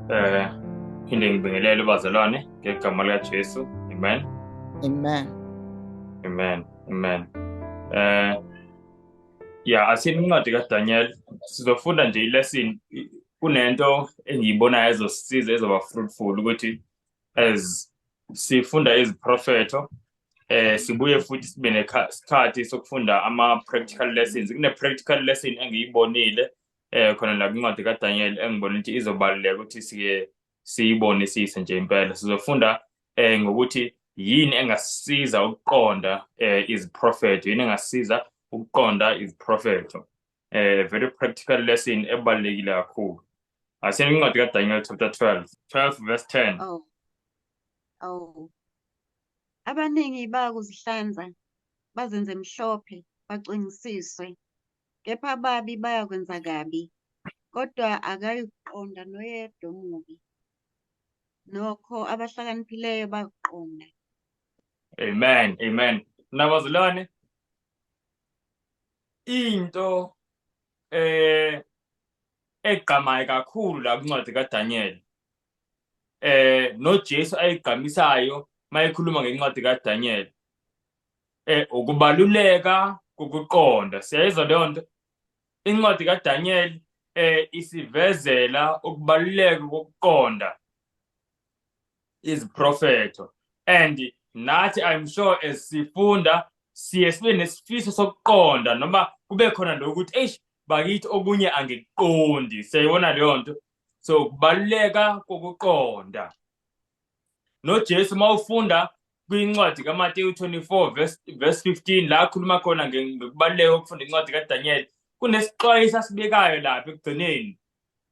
Eh phinde ngibingelele ubazalwane ngegama lika Jesu. Amen. Amen. Amen. Amen. Eh ya asini incwadi ka Daniel sizofunda nje ilesson kunento engiyibonayo ezosiza ezoba fruitful ukuthi as sifunda iziprofetho eh sibuye futhi sibe nesikhathi sokufunda ama practical lessons kune practical lesson engiyibonile eh khona la kwincwadi kaDaniel engibona ukuthi izobaluleka ukuthi sike siyibonisise nje impela sizofunda eh ngokuthi yini engasisiza ukuqonda eh iziprofetho yini engasiza ukuqonda iziprofetho eh very practical lesson ebalekile kakhulu asiyeni incwadi ka Daniel chapter 12 12 verse 10 oh oh abaningi bayakuzihlanza bazenze mhlophe bacwengisiswe kepha ababi bayakwenza kabi kodwa akayikuqonda noyedwa omubi nokho abahlakaniphileyo bakuqonda amen amen nabazilwane into eh egqamayo kakhulu la kuncwadi kaDaniel eh noJesu ayigqamisayo mayekhuluma ngencwadi kaDaniel eh ukubaluleka kokuqonda siyayizwa leyo nto incwadi kaDaniel eh isivezela ukubaluleka kokuqonda iziprofetho and nathi i'm sure as sifunda siye sibe nesifiso sokuqonda noma kube khona lokuthi eish bakithi okunye angikuqondi siyayibona leyo nto so kubaluleka kokuqonda nojesu uma ufunda kwincwadi kamateyu 24 verse, verse 15 la akhuluma khona ngokubaluleka kokufunda incwadi kadanyeli kunesixwayiso asibekayo lapha ekugcineni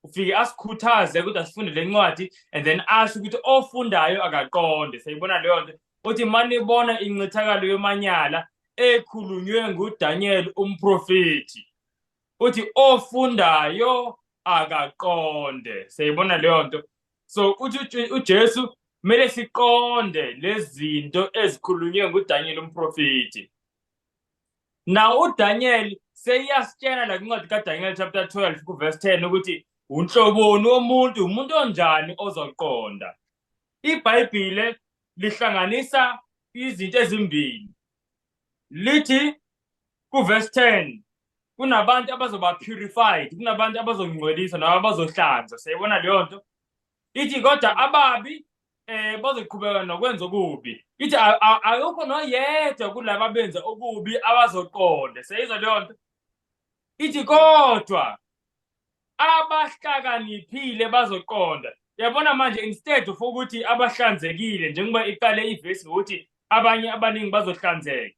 ufike asikhuthaze ukuthi asifunde le ncwadi and then asho ukuthi ofundayo akaqonde seyibona leyo nto uthi manibona incithakalo yomanyala ekhulunywe ngudanyeli umprofethi uthi ofundayo akaqonde seyibona leyo nto so uthi ujesu kumele siqonde lezi zinto ezikhulunywe ngudanyeli umprofethi Now uDaniel seyiyasitshela la incwadi kaDaniel chapter 12 kuverse 10 ukuthi unhloboni womuntu umuntu onjani ozoqonda. IBhayibhile lihlanganisa izinto ezimbili. Lithi kuverse 10 kunabantu abazoba purified, kunabantu abazongcwelisa nabo abazohlanza. Siyayibona leyo nto. Ithi kodwa ababi eh bazoqhubeka nokwenza okubi ithi ayokho noyedwa kulabo abenza okubi abazoqonde seyizwa leyo nto ithi kodwa abahlakaniphile bazoqonda yabona manje instead of ukuthi abahlanzekile njengoba iqale ivesi ngokuthi abanye abaningi bazohlanzeka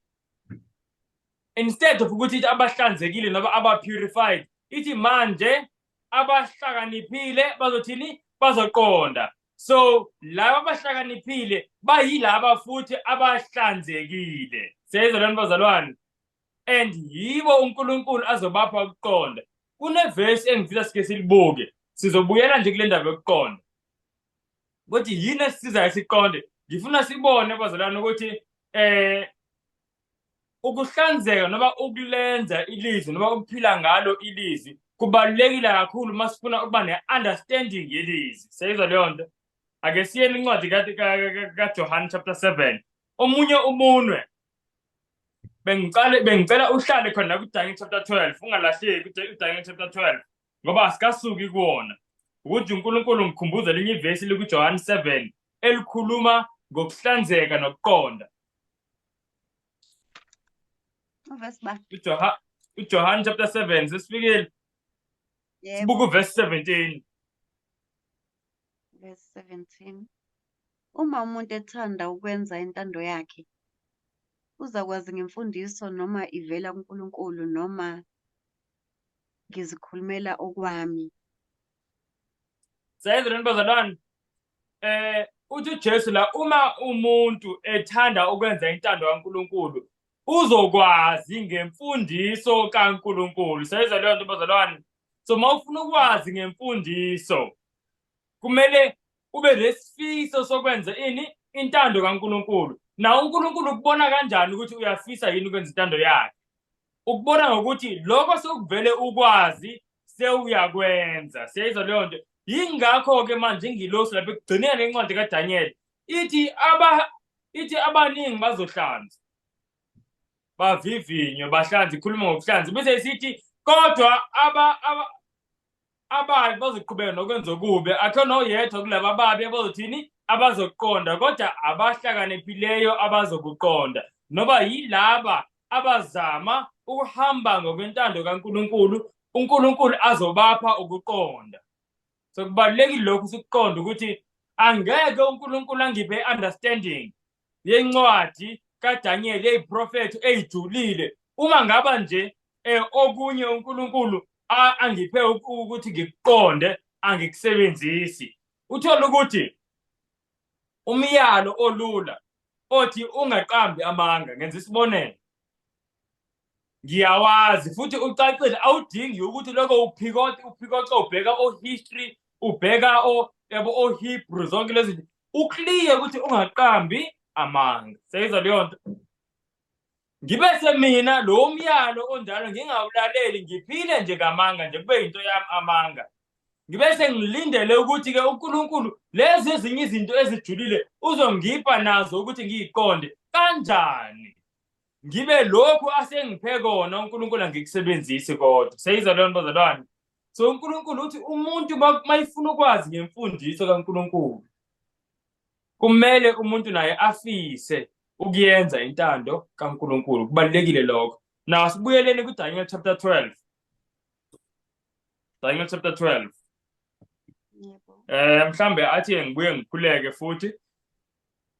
instead of ukuthi ithi abahlanzekile noba aba-purified ithi manje abahlakaniphile bazothini bazoqonda so laba abahlakaniphile bayilaba futhi abahlanzekile siyayizwa lento bazalwane and yibo uNkulunkulu azobapha ukuqonda kuneverse engifisa sike silibuke sizobuyela nje kule ndaba yokuqonda ukuthi yini esisizayo siqonde ngifuna sibone bazalwane ukuthi eh ukuhlanzeka noma ukulenza ilizwi noma ukuphila ngalo ilizwi kubalulekile kakhulu uma sifuna ukuba ne-understanding yelizwi seyizwa leyo nto ake siyeni incwadi kajohane chapter seven omunye umunwe bengicela uhlale khona kudange chapter twelve ungalahleki udange chapter twelve ngoba asikasuki kuwona ukuthi unkulunkulu ngikhumbuza linye ivesi likujohane seven elikhuluma ngokuhlanzeka nokuqonda Uvesi ba. uJoha- ujohane chapter 7 sesifikile Yebo, sibuka uvesi 17 verse 17. Uma umuntu ethanda ukwenza intando yakhe, uzakwazi ngemfundiso noma ivela kuNkulunkulu noma ngizikhulumela okwami. Sayezweni bazalwane. Eh uthi uJesu la uma umuntu ethanda ukwenza intando kaNkuluNkulu uzokwazi ngemfundiso kaNkuluNkulu. Sayezwa leyo nto bazalwane. So uma ufuna ukwazi ngemfundiso kumele ube nesifiso sokwenza ini intando kaNkuluNkulu. Na uNkuluNkulu ukubona kanjani ukuthi uyafisa yini ukwenza intando yakhe? ukubona ngokuthi lokho sokuvele ukwazi sewuyakwenza siyayizwa leyo nto yingakho-ke manje ingilosi lapho ekugcineni incwadi kadanyeli ithi aba ithi abaningi bazohlanza bavivinywe bahlanze ikhuluma ngokuhlanza bese isithi kodwa aba ababi bazoqhubeka nokwenza okubi akhona oyedwa kulaba ababi abazothini abazokuqonda kodwa abahlakaniphileyo abazokuqonda noba yilaba abazama ukuhamba ngokwentando kaNkuluNkulu uNkuluNkulu azobapha ukuqonda so kubalulekile lokhu sikuqonda ukuthi angeke uNkuluNkulu angiphe understanding yencwadi kaDaniyeli eyiprofetho eyijulile uma ngaba nje eh, okunye uNkulunkulu angiphe ukuthi ngikuqonde angikusebenzisi uthola ukuthi umyalo olula othi ungaqambi amanga ngenza isibonelo ngiyawazi futhi ucacile awudingi ukuthi lokho uphikote uphikote ubheka o-history ubheka o yabo o-hebrew zonke lezi zinto uclear ukuthi ungaqambi amanga seyizwa leyo nto ngibe semina lo myalo onjalo ngingawulaleli ngiphile nje ngamanga nje kube yinto yami amanga ngibe sengilindele ukuthi-ke unkulunkulu lezi ezinye izinto ezijulile uzongipha nazo ukuthi ngiyiqonde kanjani ngibe lokhu asengiphe kona uNkulunkulu angikusebenzisi kodwa seyiza leyo bazalwane so uNkulunkulu uthi umuntu mayifuna ukwazi ngemfundiso kaNkulunkulu kumele umuntu naye afise ukuyenza intando kaNkulunkulu kubalekile lokho now sibuyeleni kuDaniel chapter 12 Daniel chapter 12 yebo eh mhlambe athi ngibuye ngikhuleke futhi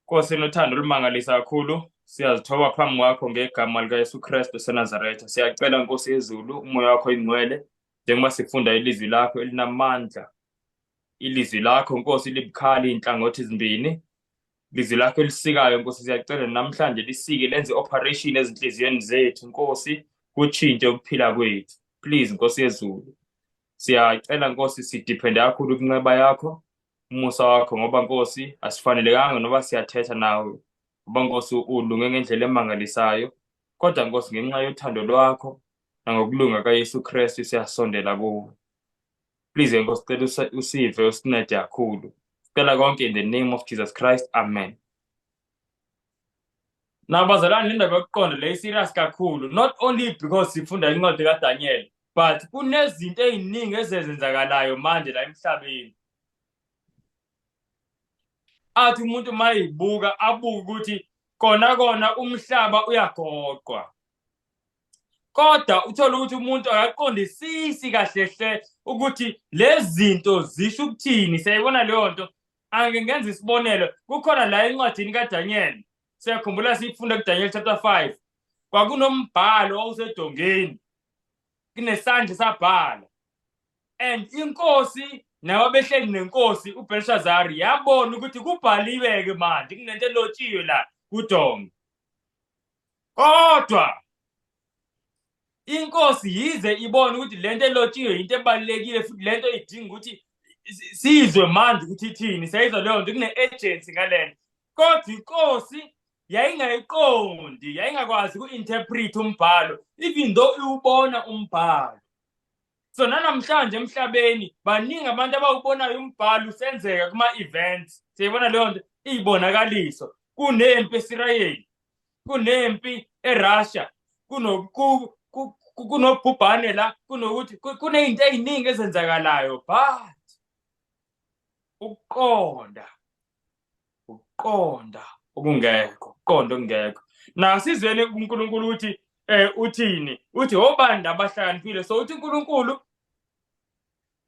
Nkosi inothando olumangalisa kakhulu siyazithoba phambi kwakho ngegama likaYesu Kristu oseNazaretha siyacela Nkosi yezulu umoya wakho ingcwele njengoba sifunda ilizwi lakho elinamandla ilizwi lakho Nkosi libukhali inhlangothi ezimbini lizwi lakho elisikayo Nkosi siyacela namhlanje lisike lenze operation ezinhliziyweni zethu Nkosi kutshintshe ukuphila kwethu please Nkosi yezulu siyacela Nkosi sidiphende kakhulu kunxeba yakho umusa wakho ngoba Nkosi asifanelekanga noba siyathetha nawe ngoba Nkosi ulunge ngendlela emangalisayo kodwa Nkosi ngenxa yothando lwakho nangokulunga kaYesu Kristu siyasondela kuwe please Nkosi cela usive usincede kakhulu sicela konke in the name of Jesus Christ amen Nabazalwane indaba yokuqonda le serious kakhulu not only because sifunda incwadi kaDaniel but kunezinto eziningi ezenzenzakalayo manje la emhlabeni athi umuntu mayibuka abuke ukuthi kona kona umhlaba uyagoqwa kodwa uthola ukuthi umuntu akaqondisisi kahle hle ukuthi lezi zinto zisho ukuthini siyayibona leyo nto Angike ngenze isibonelo kukhona la encwadini kaDaniyeli siyakhumbula siyifunda kuDaniyeli chapter 5 kwakunombhalo owusedongeni kunesandla sabhala and inkosi nawe behleli nenkosi uBelshazari yabona ukuthi kubhaliwe-ke manje kunento elotshiwe la kudonga kodwa inkosi yize ibona ukuthi lento elotshiwe into ebalekile futhi lento idinga ukuthi sizwe manje ukuthi ithini sayizwa leyo nto kune agency ngalento kodwa inkosi yayingayiqondi yayingakwazi ku interpret umbhalo even though iwubona umbhalo so nanamhlanje emhlabeni baningi abantu abawubonayo umbhalo usenzeka kuma events siyibona leyo nto iyibonakaliso kunempi esirayeli kunempi eRussia kunobhubhane la kunokuthi kunezinto eziningi ezenzakalayo but ukuqonda ukuqonda okungekho ukuqonda okungekho nasizweni uNkulunkulu uthi eh uthini uthi obani abahlakaniphile so uthi uNkulunkulu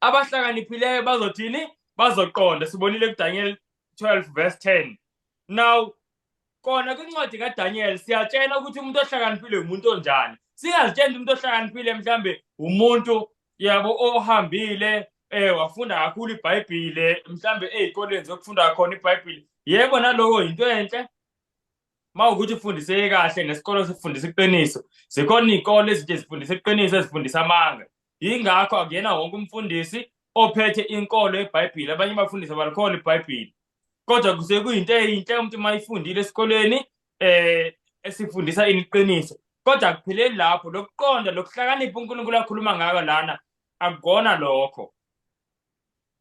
abahlakaniphileyo bazothini bazoqonda sibonile kuDaniel 12 verse 10 now Kona kwincwadi kaDaniel siyatshena ukuthi umuntu ohlakaniphile umuntu onjani. Singazitsheni umuntu ohlakaniphile mhlambe umuntu yabo ohambile eh wafunda kakhulu iBhayibhile mhlambe ezikoleni zokufunda khona iBhayibhile. Yebo naloko into enhle. Mawukuthi ufundiseke kahle nesikolo sifundisa iqiniso. Zikhona izikole ezinje zifundisa iqiniso ezifundisa amanga. Yingakho akuyena wonke umfundisi ophethe inkolo yeBhayibhile. Abanye bafundisa balikhola iBhayibhile. kodwa kuze kuyinto eyinhle umuntu uma ifundile esikolweni um esifundisa ini iqiniso kodwa akupheleli lapho lokuqonda lokuhlakanipha unkulunkulu akhuluma ngako lana akukona lokho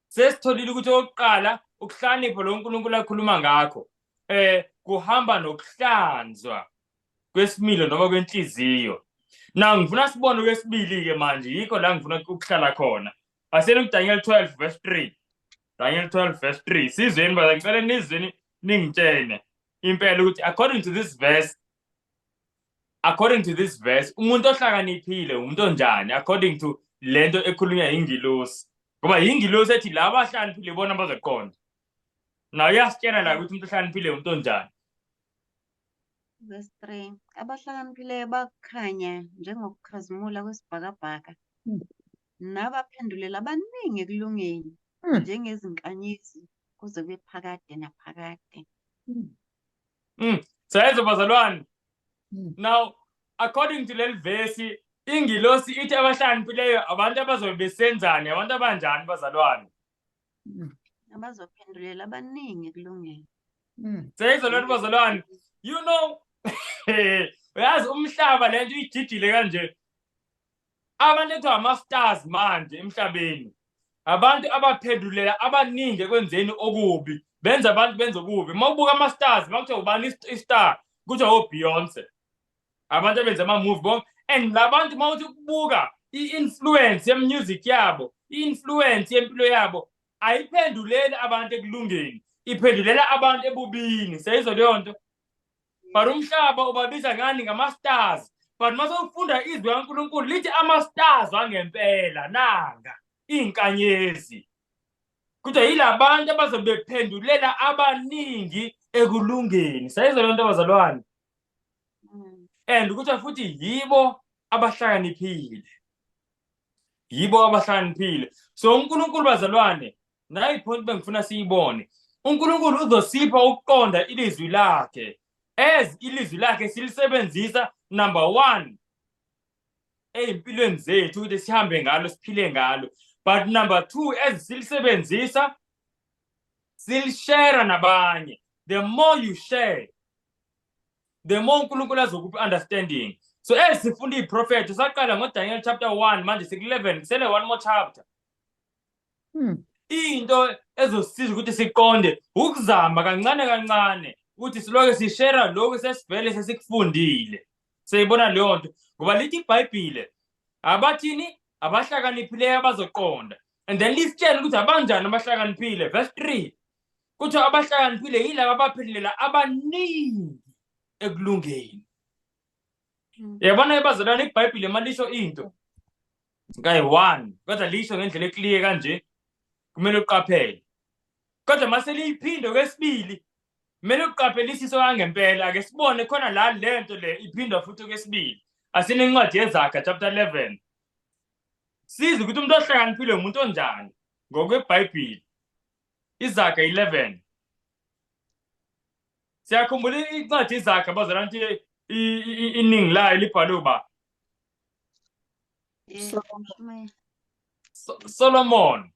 sesitholile ukuthi okokuqala ukuhlakanipha lo nkulunkulu akhuluma ngakho um kuhamba nokuhlanzwa kwesimilo noma kwenhliziyo na ngifuna sibone okwesibili-ke manje yikho la ngifuna ukuhlala khona Asiyeni kuDaniel 12 verse 3. Daniel 12 verse 3. Sizweni baza ngicela nizweni ningitshene impela ukuthi according to this verse according to this verse umuntu ohlakaniphile umuntu onjani according to lento ekhulunywa ingilosi ngoba ingilosi ethi laba ahlakaniphile bona bazoqonda nayo uyasitshena la ukuthi umuntu ohlakaniphile umuntu onjani verse 3 abahlakaniphileyo bakhanya njengokukhazimula kwesibhakabhaka Nabaphendulela abaningi ekulungeni hmm. njengezinkanyezi kuze kube phakade naphakade. Hmm. Hmm. Sayenza bazalwane. Now according to leli vesi ingilosi ithi abahlakaniphileyo abantu abazobe besenzani abantu abanjani bazalwane. Abazophendulela abaningi ekulungeni. Sayenza lona bazalwane. You know uyazi umhlaba lento ijijile kanje Abalethwa ama-stars manje emhlabeni abantu abaphendulela abaningi ekwenzeni okubi benza abantu benze okubi uma ubuka ama-stars bakuthiwa ubani i-star kuthiwa obeyonce abantu abenza ama-move bonke and la bantu uma uthi ukubuka i-influence ye-music yabo i-influence yempilo yabo ayiphenduleli abantu ekulungeni iphendulela abantu ebubini seyizwa leyo nto but umhlaba ubabiza ngani ngama-stars but uma sewufunda izwi kankulunkulu lithi ama-stars wangempela nanga iy'nkanyezi kodwa yila bantu abazobe bephendulela abaningi ekulungeni sayizwa loo nto abazalwane mm. and kuthiwa futhi yibo abahlakaniphile yibo abahlakaniphile so unkulunkulu bazalwane nayi point bengifuna siyibone uNkulunkulu uzosipha ukuqonda ilizwi lakhe as ilizwi lakhe silisebenzisa number 1 ezimpilweni zethu ukuthi sihambe ngalo siphile ngalo but number 2 as silisebenzisa silishare nabanye the more you share the more uNkulunkulu azokuphi understanding so as sifunda iprofethi saqala ngoDaniel chapter 1 manje siku 11 kusele one more chapter Hmm. Into ezosiza ukuthi siqonde ukuzama kancane kancane ukuthi siloke sishera lokhu sesivele sesikufundile. Seyibona leyo nto ngoba lithi iBhayibhile abathini abahlakaniphileyo abazoqonda and then lisitshela ukuthi abanjani abahlakaniphile verse 3 kuthiwa abahlakaniphile yilaba abaphilela abaningi ekulungeni hmm. yabona ebazalwane ibhayibhile malisho into kayi-one kodwa lisho ngendlela ekliye kanje kumele uqaphele kodwa uma seliyiphinde kwesibili kumele uqaphelisise kangempela ake sibone khona la le nto le iphindwa futhi okwesibili asinencwadi yezakha chapter 11 size ukuthi umuntu ohlakaniphile umuntu onjani ngokwebhayibhili izakha 11 siyakhumbula incwadi izakha bazalana ukuthi iningi layo libhalwe uba Eh, Solomon. So- Solomon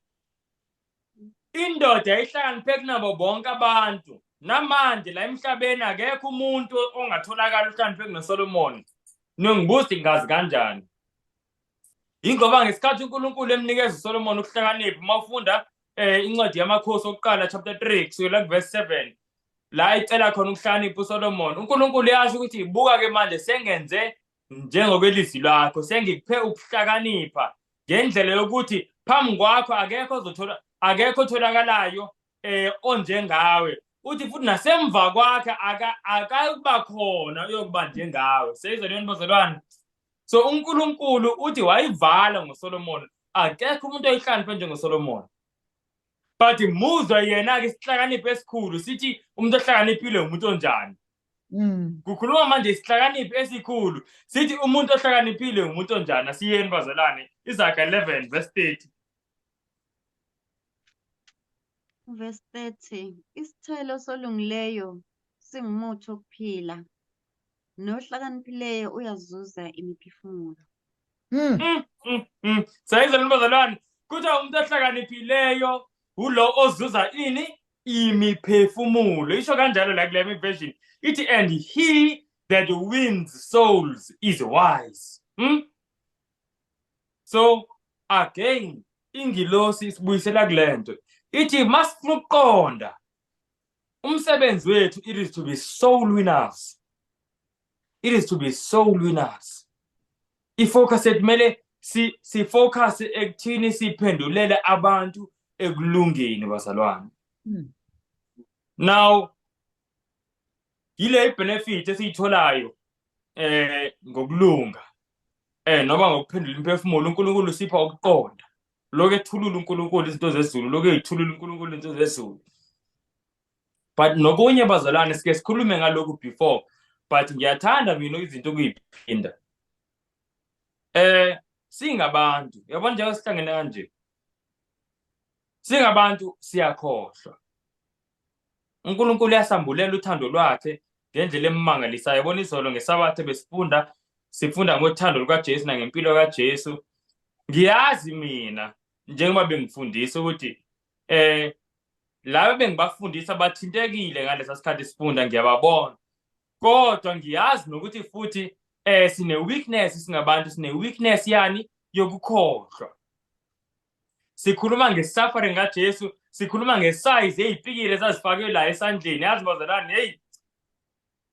indoda ihlakaniphe kunabo bonke abantu namanje la emhlabeni akekho umuntu ongatholakala uhlakaniphe kunoSolomon ningibuza ngazi kanjani ingoba ngesikhathi uNkulunkulu emnikeza uSolomon ukuhlakanipha uma ufunda eh incwadi yamakhosi okuqala chapter 3 kusukela kuverse 7 la icela khona ukuhlakanipha uSolomon uNkulunkulu yasho ukuthi buka ke manje sengenze njengokwelizwi lakho sengikuphe ukuhlakanipha ngendlela yokuthi phambi kwakho akekho ozothola akekho otholakalayo eh onjengawe uthi futhi nasemva kwakhe akakuba khona uyokuba njengawe seyizwa leyo bazalwane so uNkulunkulu uthi wayivala ngoSolomon akekho umuntu oyihlaniphwe njengoSolomon but muzwa yena-ke isihlakanipho esikhulu sithi umuntu ohlakaniphile umuntu onjani Mm. Kukhuluma manje isihlakaniphi esikhulu. Sithi umuntu ohlakaniphile ngumuntu onjani? Asiyeni bazalwane. Izaga 11 verse 30. Verse 30. Isithelo solungileyo singumuthi wokuphila. Nohlakaniphileyo uyazuza imiphefumulo. Mm. Mm, mm, mm. Sayizela ntombazalwane kuthiwa umuntu ohlakaniphileyo ulo ozuza ini imiphefumulo isho kanjalo la kule version ithi and he that wins souls is wise hmm? so again ingilosi isibuyisela kule nto ithi masifuna ukuqonda umsebenzi wethu it is to be soul winners it is to be soul winners ifocus kumele si si focus ekuthini siphendulele abantu ekulungeni bazalwane hmm. now yile benefit esiyitholayo eh ngokulunga eh noma ngokuphendula imphefumulo uNkulunkulu usipha ukuqonda lokethulula uNkulunkulu izinto zezulu lokethulula uNkulunkulu izinto zezulu but nokunye bazalwane sike sikhulume ngalokhu before but ngiyathanda mina izinto ukuyiphinda eh singabantu yabona njengoba sihlangene kanje singabantu siyakhohlwa uNkulunkulu uyasambulela uthando lwakhe ngendlela emangalisayo yabona izolo ngesabathe besifunda sifunda ngothando lukaJesu nangempilo kaJesu ngiyazi mina njengoba bengifundisa ukuthi Eh laba bengibafundisa bathintekile ngalesa sikhathi sifunda ngiyababona. Kodwa ngiyazi nokuthi futhi eh sine weakness singabantu sine weakness yani yokukhohlwa. Sikhuluma nge suffering ka Jesu, sikhuluma nge size ezipikile ezazifakwe la esandleni, yazi bazalwane hey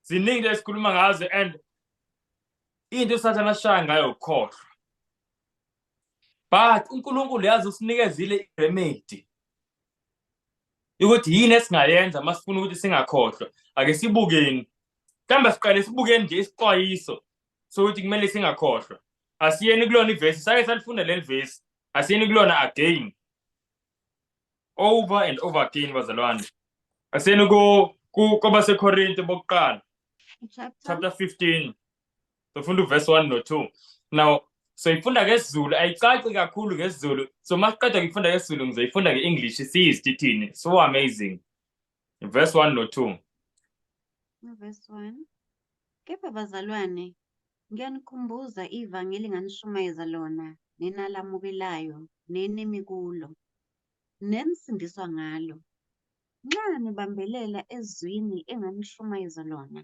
ziningi esikhuluma ngazo and into usathana ashaya ngayo ukukhohlwa but uNkulunkulu yazi usinikezile iremedy ukuthi yini esingayenza masifuna ukuthi singakhohlwa ake sibukeni mhlawumbe siqale sibukeni nje isixwayiso sokuthi kumele singakhohlwa asiyeni kulona ivesi sake salifunda leli vesi asiyeni kulona again over and over again bazalwane asiyeni ku kwabasekorinte bokuqala chapter 15 sofunda uverse 1 no-2 now so ifunda ngesizulu ayicaci kakhulu ngesizulu so uma siqeda ngifunda ngesizulu ngizoyifunda nge-english siyizitithini so amazing verse 1 no-2 verse 1 kepha bazalwane ngiyanikhumbuza ivangeli nganishumayeza lona nenalamukelayo nenimi kulo nenisindiswa ngalo nxa nibambelela ezwini enganishumayeza lona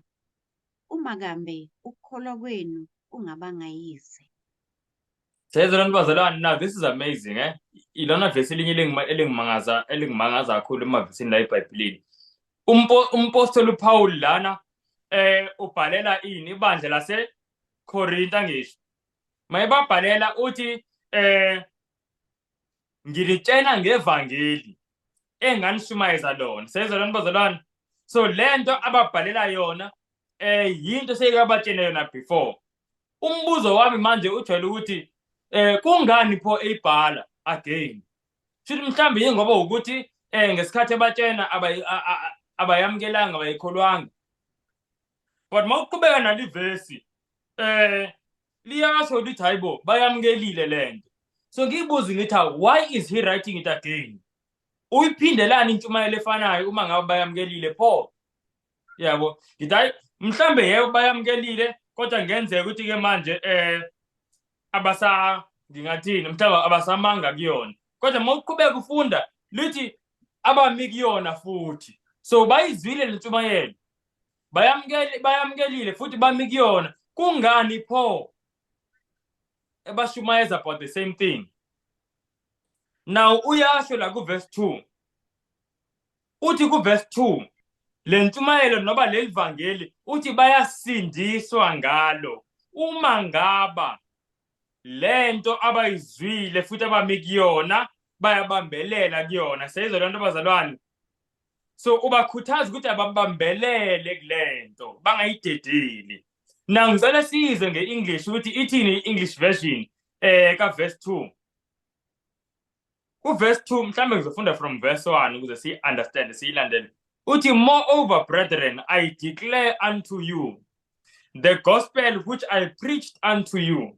Uma kambe ukukholwa kwenu kungabanga yize. Sezela nibazalwane now this is amazing eh ilona verse elinye elingima- elingimangaza elingimangaza kakhulu emavesini la eBhayibhelini Umpo- umpostoli uPaul lana eh ubhalela ini ibandla lase Korinta ngisho mayebabhalela uthi eh ngilitshena ngevangeli enganishumayeza lona seyizwa lona bazalwane so le nto ababhalela yona um yinto seyikabatshele yona before umbuzo wami manje ujwayele ukuthi um kungani pho eyibhala again shuthi mhlawumbe yingoba wukuthi um ngesikhathi ebatshena abayamukelanga abayikholwanga but uma uqhubeka nalivesi um eh, liyasho lithi hayi bo bayamukelile le nto so ngiyibuzi ngithi why is he writing it again uyiphindelani intshumayelo efanayo uma ngabe bayamukelile pho yabo ngithi hayi mhlambe yebo bayamukelile kodwa ngenzeka ukuthi ke manje eh abasa ngingathini mhlawumbe abasamanga kuyona kodwa uma uqhubeka ufunda lithi abami kuyona futhi so bayizwile lentshumayelo bayamukeli bayamukelile futhi bami kuyona kungani pho ebashumayeza about the same thing now uyasho la kuverse 2 uthi kuverse 2 le ntshumayelo noba leli vangeli uthi bayasindiswa ngalo uma ngaba lento abayizwile futhi abami kuyona bayabambelela kuyona seyizwa lento bazalwane so ubakhuthaza ukuthi ababambelele kulento bangayidedeli na ngicela size nge-english ukuthi ithini i-english version eh kaverse 2 uverse 2 mhlawumbe ngizofunda from verse 1 ukuze siyi-understand siyilandele uthi moreover brethren i declare unto you the gospel which i preached unto you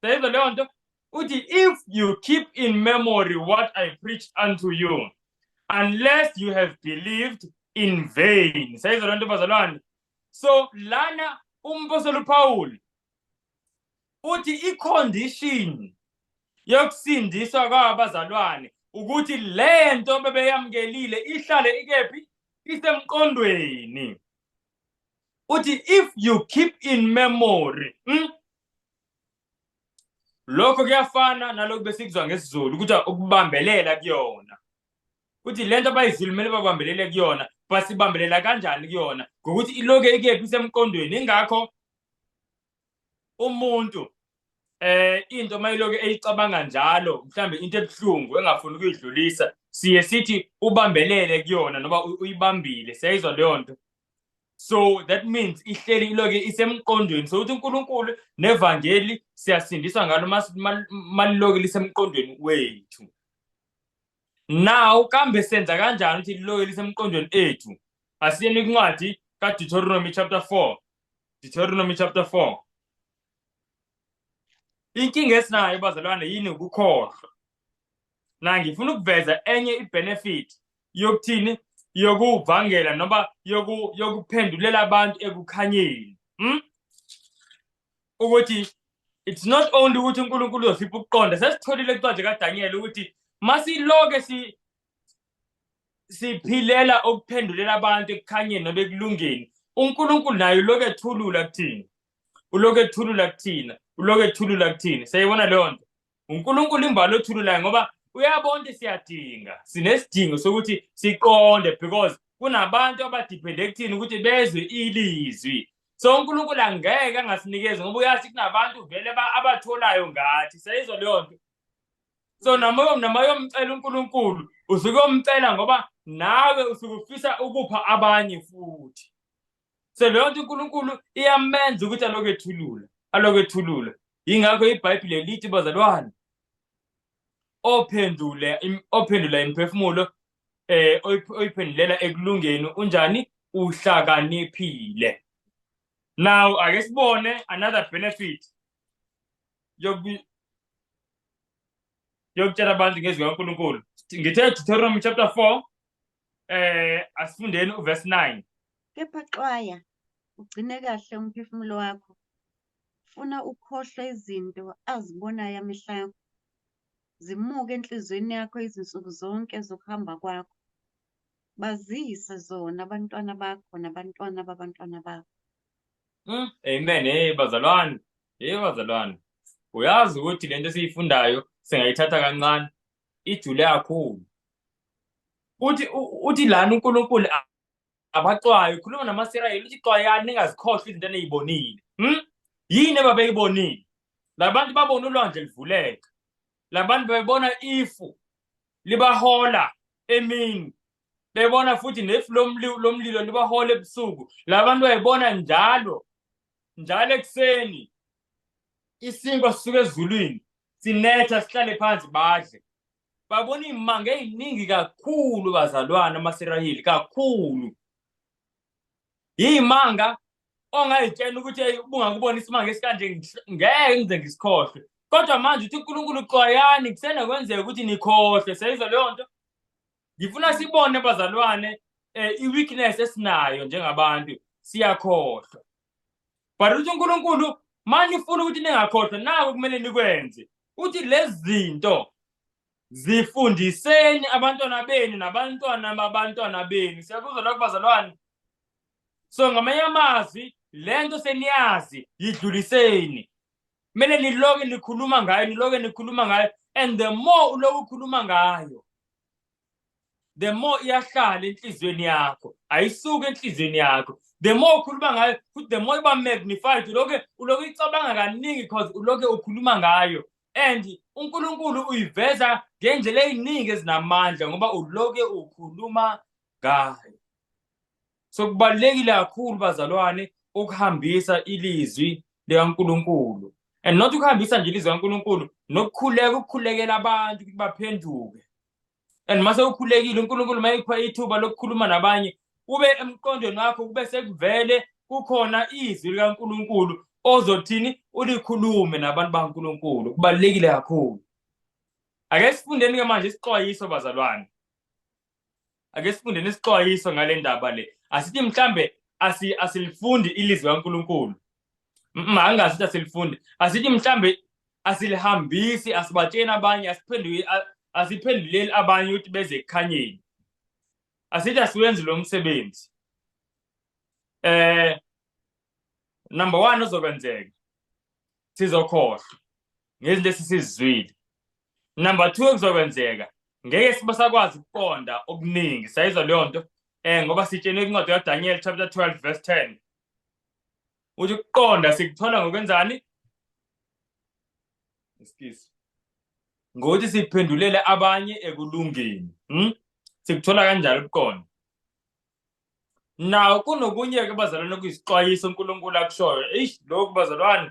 seyizwa leyo nto uthi if you keep in memory what i preached unto you unless you have believed in vain seyizwa leyo nto bazalwane so lana umpostoli upawuli uthi icondition yokusindiswa kwabazalwane ukuthi le nto bebeyamukelile ihlale ikephi isemqondweni uthi if you keep in memory hmm? lokho kuyafana nalokhu besikuzwa ngesizulu ukuthi ukubambelela kuyona ukuthi lento abayizulu kumele babambelele kuyona basibambelela kanjani kuyona ngokuthi iloke ikephi isemqondweni ingakho umuntu eh into mayiloke eyicabanga njalo mhlambe into ebuhlungu engafuni ukuyidlulisa siye sithi ubambelele kuyona noba uyibambile siyayizwa leyo nto so that means ihleli iloke isemqondweni so uthi uNkulunkulu nevangeli siyasindiswa ngalo maliloke lisemqondweni wethu now kambe senza kanjani ukuthi liloke lisemqondweni ethu asiyeni incwadi kaDeuteronomy chapter 4 Deuteronomy chapter 4 inkinga esinayo bazalwane yini ukukhohlwa na ngifuna ukuveza enye ibenefit yokuthini yokuvangela noma yoku yokuphendulela abantu ekukhanyeni hm ukuthi it's not only ukuthi uNkulunkulu uzipha ukuqonda sesitholile incwadi kaDaniel ukuthi masiloke si siphilela ukuphendulela abantu ekukhanyeni nobekulungeni uNkulunkulu naye lokethulula kuthini uloku ethulula kuthina uloku ethulula kuthini siyayibona leyo nto unkulunkulu imbali othululayo ngoba uyabona ukuthi siyadinga sinesidingo sokuthi siqonde because kunabantu abadiphende kuthini ukuthi bezwe ilizwi so unkulunkulu angeke angasinikezi ngoba uyazi kunabantu vele abatholayo ngathi sayizwa leyo nto so noma yomcela unkulunkulu usuke omcela ngoba nawe usuke ufisa ukupha abanye futhi so leyo nto unkulunkulu iyamenza ukuthi alokwethulula alokwethulula yingakho ibhayibhile lithi bazalwane ophendule ophendula imiphefumulo eh oyiphendulela ekulungeni unjani uhlakaniphile now ake sibone another benefit yokutshela abantu ngezwi kaNkulunkulu ngithe Deuteronomy chapter 4 Eh asifundeni uverse 9. Kepha xwaya ugcine kahle umphefumulo wakho. Funa ukhohlwe izinto azibonayo amehla akho. Zimuke enhliziyweni yakho izinsuku zonke zokuhamba kwakho. Bazise zona abantwana bakho nabantwana babantwana bakho. Mm, amen. Hey bazalwane. Hey bazalwane. Uyazi ukuthi lento esiyifundayo singayithatha kancane ijule kakhulu uthi uthi lana uNkulunkulu abaxwayo ukhuluma namaSirayeli uthi xwayani ningazikhohlwa izinto eniyibonile hm yini ababeyibonile labantu babona ulwandle livuleka labantu bebona ifu libahola emini bebona futhi nefu lomlilo libahola ebusuku labantu bayibona njalo njalo ekuseni isinkwa sisuke ezulwini sinetha sihlale phansi badle babona iy'manga ey'ningi kakhulu bazalwane amasirayeli kakhulu iy'manga ongayitshela ukuthi eyi ubungakubona isimanga esikanje ngeke ngize ngisikhohlwe kodwa manje uthi unkulunkulu xwayani kusena kwenzeka ukuthi nikhohlwe seyizwa leyo nto ngifuna sibone bazalwane um i-weakness esinayo njengabantu siyakhohlwa but uthi uNkulunkulu manje ufuna ukuthi ningakhohlwa naku kumele nikwenze uthi lezi zinto zifundiseni abantwana benu nabantwana babantwana benu siyakuzwa lokho bazalwane so ngamanye amazwi le nto seniyazi yidluliseni kumele niloke nikhuluma ngayo niloke nikhuluma ngayo and the more uloku ukhuluma ngayo the more iyahlala enhliziyweni yakho ayisuke enhliziyweni yakho the more ukhuluma ngayo futhi the more iba magnified uloke uloke icabanga kaningi because uloke ukhuluma ngayo and uNkulunkulu uyiveza ngendlela eziningi ezinamandla ngoba uloke ukhuluma ngayo so kubalekile kakhulu bazalwane ukuhambisa ilizwi likaNkulunkulu and not ukuhambisa nje ilizwi likaNkulunkulu nokukhuleka ukukhulekela abantu ukuthi baphenduke and uma sewukhulekile unkulunkulu uma ikupha ithuba lokukhuluma nabanye kube emqondweni wakho kube sekuvele kukhona izwi likankulunkulu ozothini ulikhulume nabantu bakankulunkulu kubalulekile kakhulu ake sifundeni-ke manje isixwayiso bazalwane ake sifunde nesixwayiso ngale ndaba le asithi mhlambe asi asilifundi ilizwi kaNkuluNkulu mangazi ukuthi asilifundi asithi mhlambe asilihambisi asibatsheni abanye asiphenduki asiphenduleli abanye ukuthi beze ekukhanyeni asithi asiwenzi lo msebenzi eh number 1 ozokwenzeka sizokhohlwa ngezinto esisizwile number two ekuzokwenzeka ngeke sibasakwazi ukuqonda okuningi sayizwa leyo nto um ngoba sitshenwe kwincwadi kadaniel chapter 12 verse 10 uthi ukuqonda sikuthola ngokwenzani excuse ngokuthi siphendulele abanye ekulungeni hmm? sikuthola kanjalo ukuqonda nawo kunokunye-ke bazalwane kuyisixwayiso unkulunkulu akushoyo eish lokhu bazalwane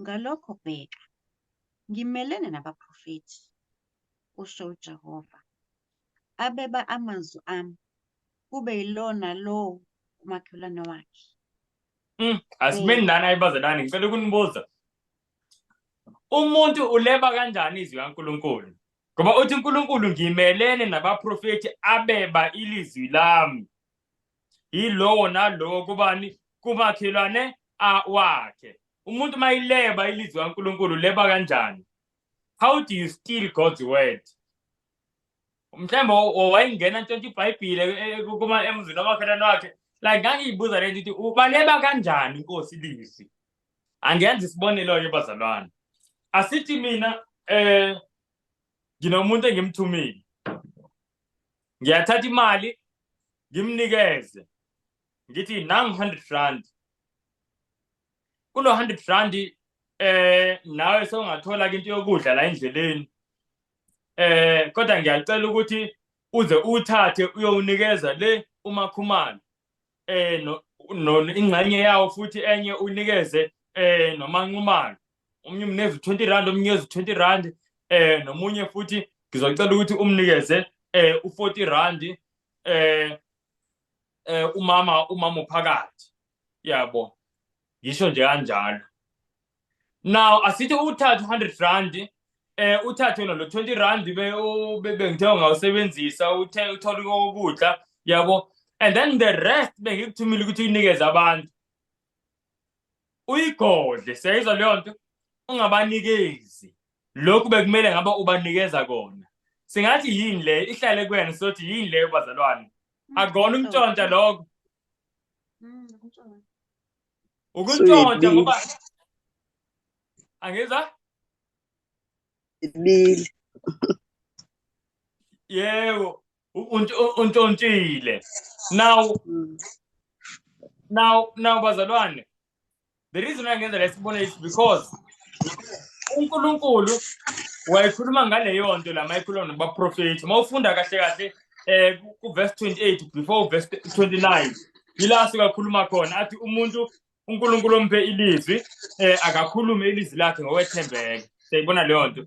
Ngalokho bheka, ngimelene nabaprofethi, kusho uJehova, abeba amazwi ami, kube yilona lowo umakhelwane wakhe. Mm, asimeni Eh. nani ayibazalwane ngicela ukunibuza umuntu uleba kanjani izwi kaNkuluNkulu ngoba uthi uNkuluNkulu ngimelene nabaprofethi abeba ilizwi lami yilowo nalowo kubani kumakhelwane wakhe umuntu uma ileba ilizwi kankulunkulu leba kanjani how do you steal god's word mhlawumbe wayengena ntshontsha ibhayibhile eh, eh, kuma emzini omakhelwane wakhe like ngangiyibuza le nto ukuthi ubaleba kanjani inkosi lizwi angenza isibonelo-ke bazalwane asithi mina um nginomuntu engimthumile ngiyathatha imali ngimnikeze ngithi nangu 100 rand kulo 100 rand eh nawe sewungathola into yokudla la endleleni eh kodwa ngiyacela ukuthi uze uthathe uyowunikeza le umakhumalo eh no ingxenye yawo futhi enye unikeze eh nomanqumalo omunye umneza u-20 rand omunye eza u-20 rand eh nomunye futhi ngizocela ukuthi umnikeze eh u-40 rand eh eh umama umama uphakathi yabo yisho nje kanjalo now asithi uthathe 100 rand eh uthathe lo 20 rand be bengithe ngawusebenzisa uthe uthola ukudla yabo and then the rest bengikuthumile ukuthi unikeze abantu uyigodle siyayizwa leyo nto ungabanikezi lokhu bekumele ngabe ubanikeza kona singathi yini le ihlale kuyena sothi yini leyo bazalwane mm, akona umntshontsha lokho mm, ukuntshontsha ngoba angizwa ibili yebo untshontshile now mm. now now bazalwane the reason angenza la sibone is because uNkulunkulu wayekhuluma ngaleyo nto la mayikhuluma nobaprofethi uma ufunda kahle kahle eh ku verse 28 before verse 29 yila suka khuluma khona athi umuntu uNkulunkulu omphe ilizwi eh akakhulume ilizwi lakhe ngokwethembeka siyibona leyo nto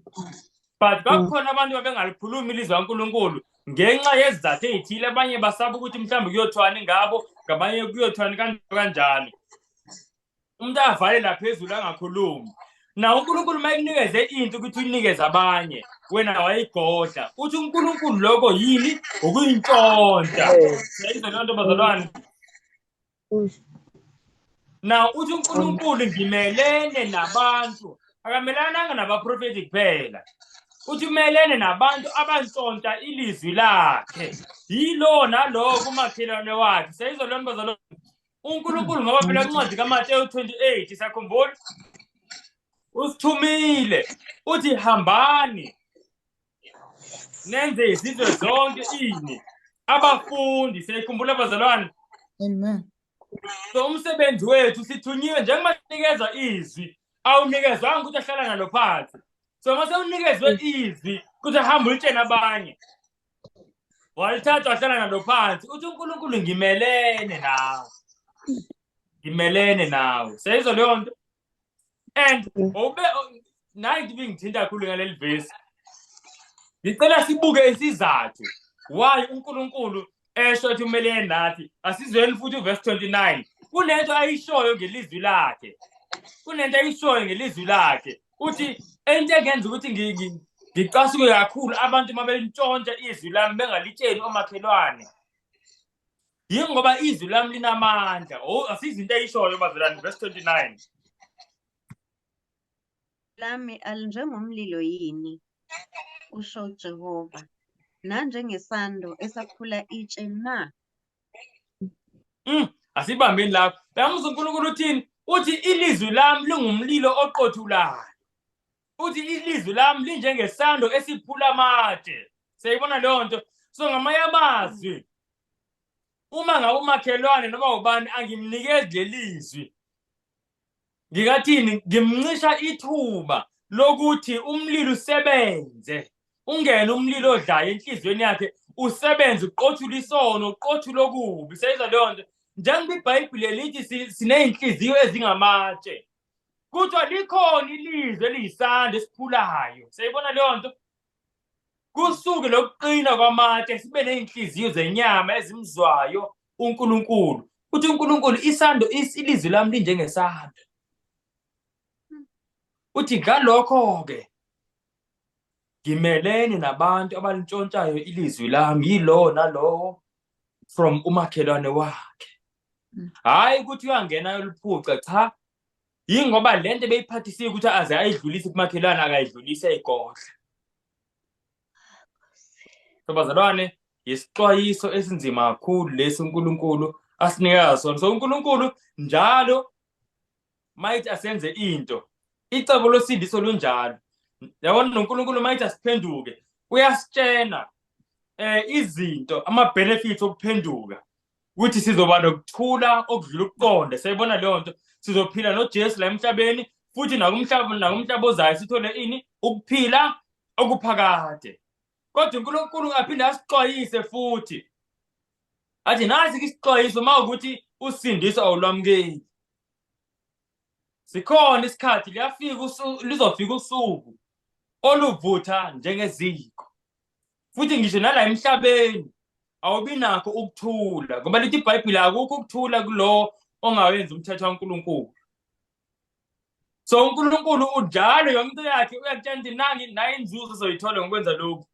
but mm. bakhona abantu abengalikhulumi ilizwi kaNkulunkulu ngenxa yezizathu ezithile abanye basaba ukuthi mhlawumbe kuyothwani ngabo ngabanye kuyothwani kanjalo kanjalo umuntu avale laphezulu angakhulumi na uNkulunkulu mayikunikeze into ukuthi uyinikeze abanye wena wayigodla uthi uNkulunkulu lokho yini ukuyintshontsha seyizolonto bazalwane now uthi unkulunkulu ngimelene nabantu akamelananga nabaprofethi kuphela uthi umelene nabantu abantsontsha ilizwi lakhe yilo nalowo kumakhelwane wakhe seyizolona bazalo unkulunkulu ngoba phela incwadi kamateyu 28 sakhumbula usithumile uthi hambani nenze izizwe zonke ini abafundi siyayikhumbula abazalwane amen so umsebenzi wethu sithunyiwe njengoba nikezwa izwi awunikezwanga ukuthi ahlala nalo phansi so uma sewunikezwe izwi ukuthi ahambe ulitshene abanye walithatha wahlala nalo phansi uthi unkulunkulu ngimelene nawe ngimelene nawe seyizwa leyo nto and mm. ube nayi ngibe ngithinta kakhulu ngaleli vesi ngicela sibuke isizathu why uNkulunkulu esho ukuthi kumele yenathi asizweni futhi uverse 29 kunento ayishoyo ngelizwi lakhe kunento ayishoyo ngelizwi lakhe uthi into engenza ukuthi ngicasuke kakhulu abantu uma belintshontsha izwi lami bengalitsheni omakhelwane yini ngoba izwi lami linamandla o oh, asizinto eyishoyo bazalwane verse 29 lami alinjengomlilo yini usho uJehova nanjengesando esaphula itshe na mm asibambeni lapho bamuzwa uNkulunkulu uthini uthi ilizwi lami lingumlilo oqothulayo uthi ilizwi lami linjengesando esiphula amatshe siyayibona leyo nto so ngamanye amazwi uma ngabe umakhelwane noma ubani angimnikezi lelizwi ngikathini ngimncisha ithuba lokuthi umlilo usebenze ungene umlilo odlayo enhliziyweni yakhe usebenze uqothula isono uqothula okubi seyizwa leyo nto njengoba ibhayibhile lithi siney'nhliziyo ezingamatshe kuthiwa likhona ilizwe eliyisandla esiphulayo seyibona leyo nto kusuke lokuqina kwamatshe sibe nezinhliziyo zenyama ezimzwayo uNkulunkulu uthi uNkulunkulu isando ilizwi lami linjengesando uthi ngalokho ke ngimelene nabantu abalintshontshayo ilizwi lami yilowo nalowo from umakhelwane wakhe hayi ukuthi uyangena yoluphuca cha yingoba le nto ebeyiphathisile ukuthi aze ayidlulise kumakhelwane akayidlulise igodla so bazalwane yisixwayiso esinzima kakhulu lesi unkulunkulu asinika sona so unkulunkulu njalo mayithi asenze into icebo losindiso lunjalo yabona nonkulunkulu mayithi asiphenduke uyasitshena um izinto ama-benefits okuphenduka ukuthi sizoba nokuthula okudlula ukuqonda siyayibona leyo nto sizophila nojesu la emhlabeni futhi nakumhlaba nakumhlaba ozayo sithole ini ukuphila okuphakade kodwa unkulunkulu aphinde asixwayise futhi athi nasi ke isixwayiso uma ukuthi usindiso awulwamukeli sikhona isikhathi liyafika lizofika usuku oluvutha njengeziko futhi ngisho nala emhlabeni awubi nakho ukuthula ngoba lithi ibhayibhile akukho ukuthula kulowo ongawenzi umthetho kankulunkulu so unkulunkulu ujalo yonke into yakhe uyakutshela ukuthi nangi naye inzuzo ezoyithola ngokwenza lokhu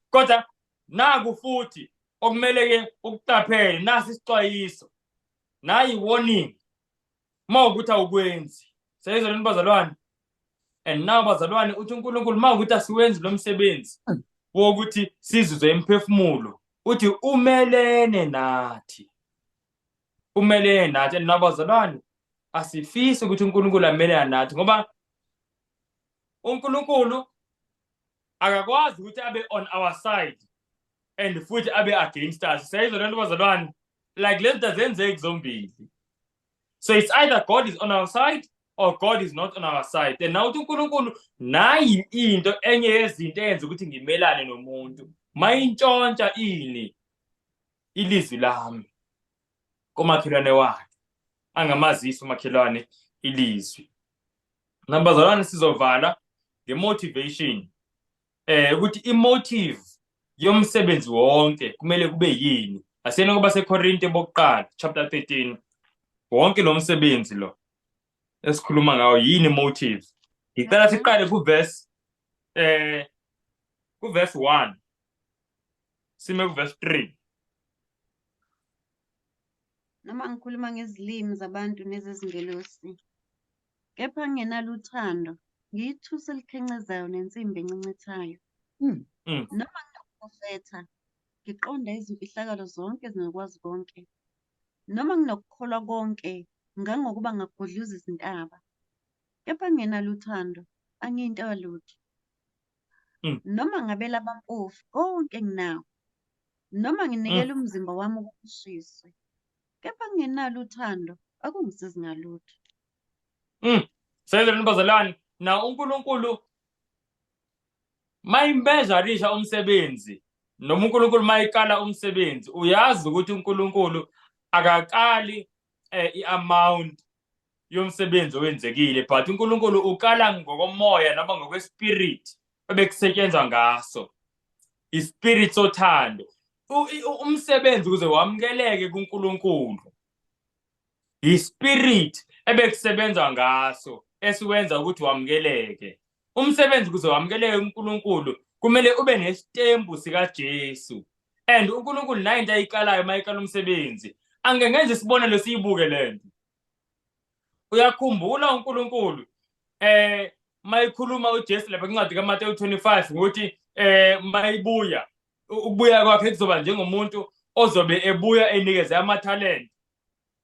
kodwa naku futhi okumele-ke ukuqaphele nasi isixwayiso nayi warning uma ukuthi awukwenzi seyizwa lento bazalwane and now bazalwane uthi unkulunkulu uma ukuthi asiwenzi lo msebenzi wokuthi sizizwe imphefumulo uthi umelene nathi umelene nathi and now bazalwane asifisi ukuthi unkulunkulu amelene nathi ngoba unkulunkulu akakwazi ukuthi abe on our side and futhi abe against us siyayizwa lento bazalwane like lento zenzeki zombili so it's either god is on our side or god is not on our side and now uthi unkulunkulu nayi into enye yezinto eyenza ukuthi ngimelane nomuntu mayintshontsha ini ilizwi lami komakhelwane wakhe angamazisi umakhelwane ilizwi nabazalwane sizovala ngemotivation eh ukuthi imotive yomsebenzi wonke kumele kube yini asena kuba seKorinte bokuqala chapter 13 wonke lo msebenzi lo esikhuluma ngawo yini motive ngicela mhm. siqale ku verse eh ku verse 1 sime ku verse 3 noma ngikhuluma ngezilimi zabantu nezezingelosi Kepha ngingenalo uthando, ngiyithusi elikhencezayo nensimbi encencethayo. Mm. Mm. Noma nginokuprofetha, ngiqonda izimfihlakalo zonke ezingakwazi konke. Noma nginokukholwa konke, ngangokuba ngagudluza izintaba. Kepha ngingenalo uthando, angiyinto yalutho. Mm. Noma ngabela abampofu konke enginakho. Noma nginikela umzimba wami ukuthi ushiswe. kepha ngingenalo uthando akungisizi ngalutho mm. sezela nibazalwane na unkulunkulu mayimbezarisha umsebenzi noma unkulunkulu mayikala umsebenzi uyazi ukuthi unkulunkulu akaqali eh, i-amount yomsebenzi owenzekile but uNkulunkulu ukala ngokomoya noma ngokwespirit ebekusetshenzwa ngaso ispirit sothando umsebenzi ukuze wamukeleke kuNkulunkulu ispirit ebekusebenza ngaso esiwenza ukuthi wamukeleke umsebenzi kuze wamukeleke kuNkulunkulu kumele ube nesitembu sikaJesu and uNkulunkulu nayo into ayiqalayo uma iqala umsebenzi angeke ngenze isibonelo siyibuke le nto uyakhumbula uNkulunkulu eh mayikhuluma uJesu lapha kwincwadi kaMateyu 25 ukuthi eh mayibuya ukubuya kwakhe kuzoba njengomuntu ozobe ebuya enikeze amathalente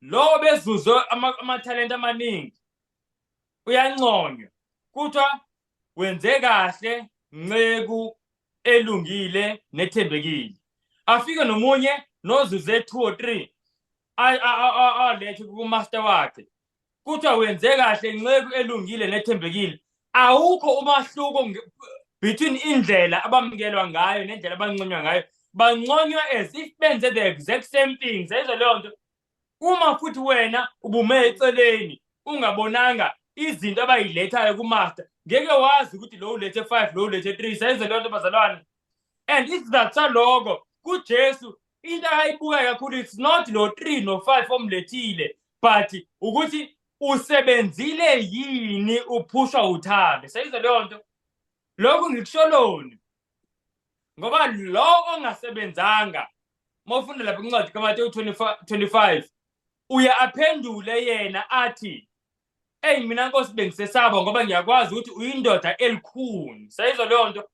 lowo bezuze amathalente amaningi uyanconywa kuthiwa wenze kahle nceku elungile nethembekile afike nomunye nozuze two or three alethe kumaster wakhe kuthiwa wenze kahle nceku elungile nethembekile awukho umahluko between indlela abamkelwa ngayo nendlela abanconywa ngayo banconywa as if benze the exact same thing seyizwa leyo nto uma futhi wena ubume eceleni ungabonanga izinto abayilethayo kumaster ngeke wazi ukuthi lo ulethe five lo ulethe three seyizwa leyo nto bazalwane and isizathu saloko kujesu into akayibukayo kakhulu it's not lo 3 no 5 omlethile but ukuthi usebenzile yini uphushwa uthando seyizwe leyo nto lokhu ngikusholoni ngoba lo ongasebenzanga uma ufunda lapha incwadi kamatewu 25 uye aphendule yena athi eyi mina nkosi bengisesaba ngoba ngiyakwazi ukuthi uyindoda elikhuni seyizwa leyo nto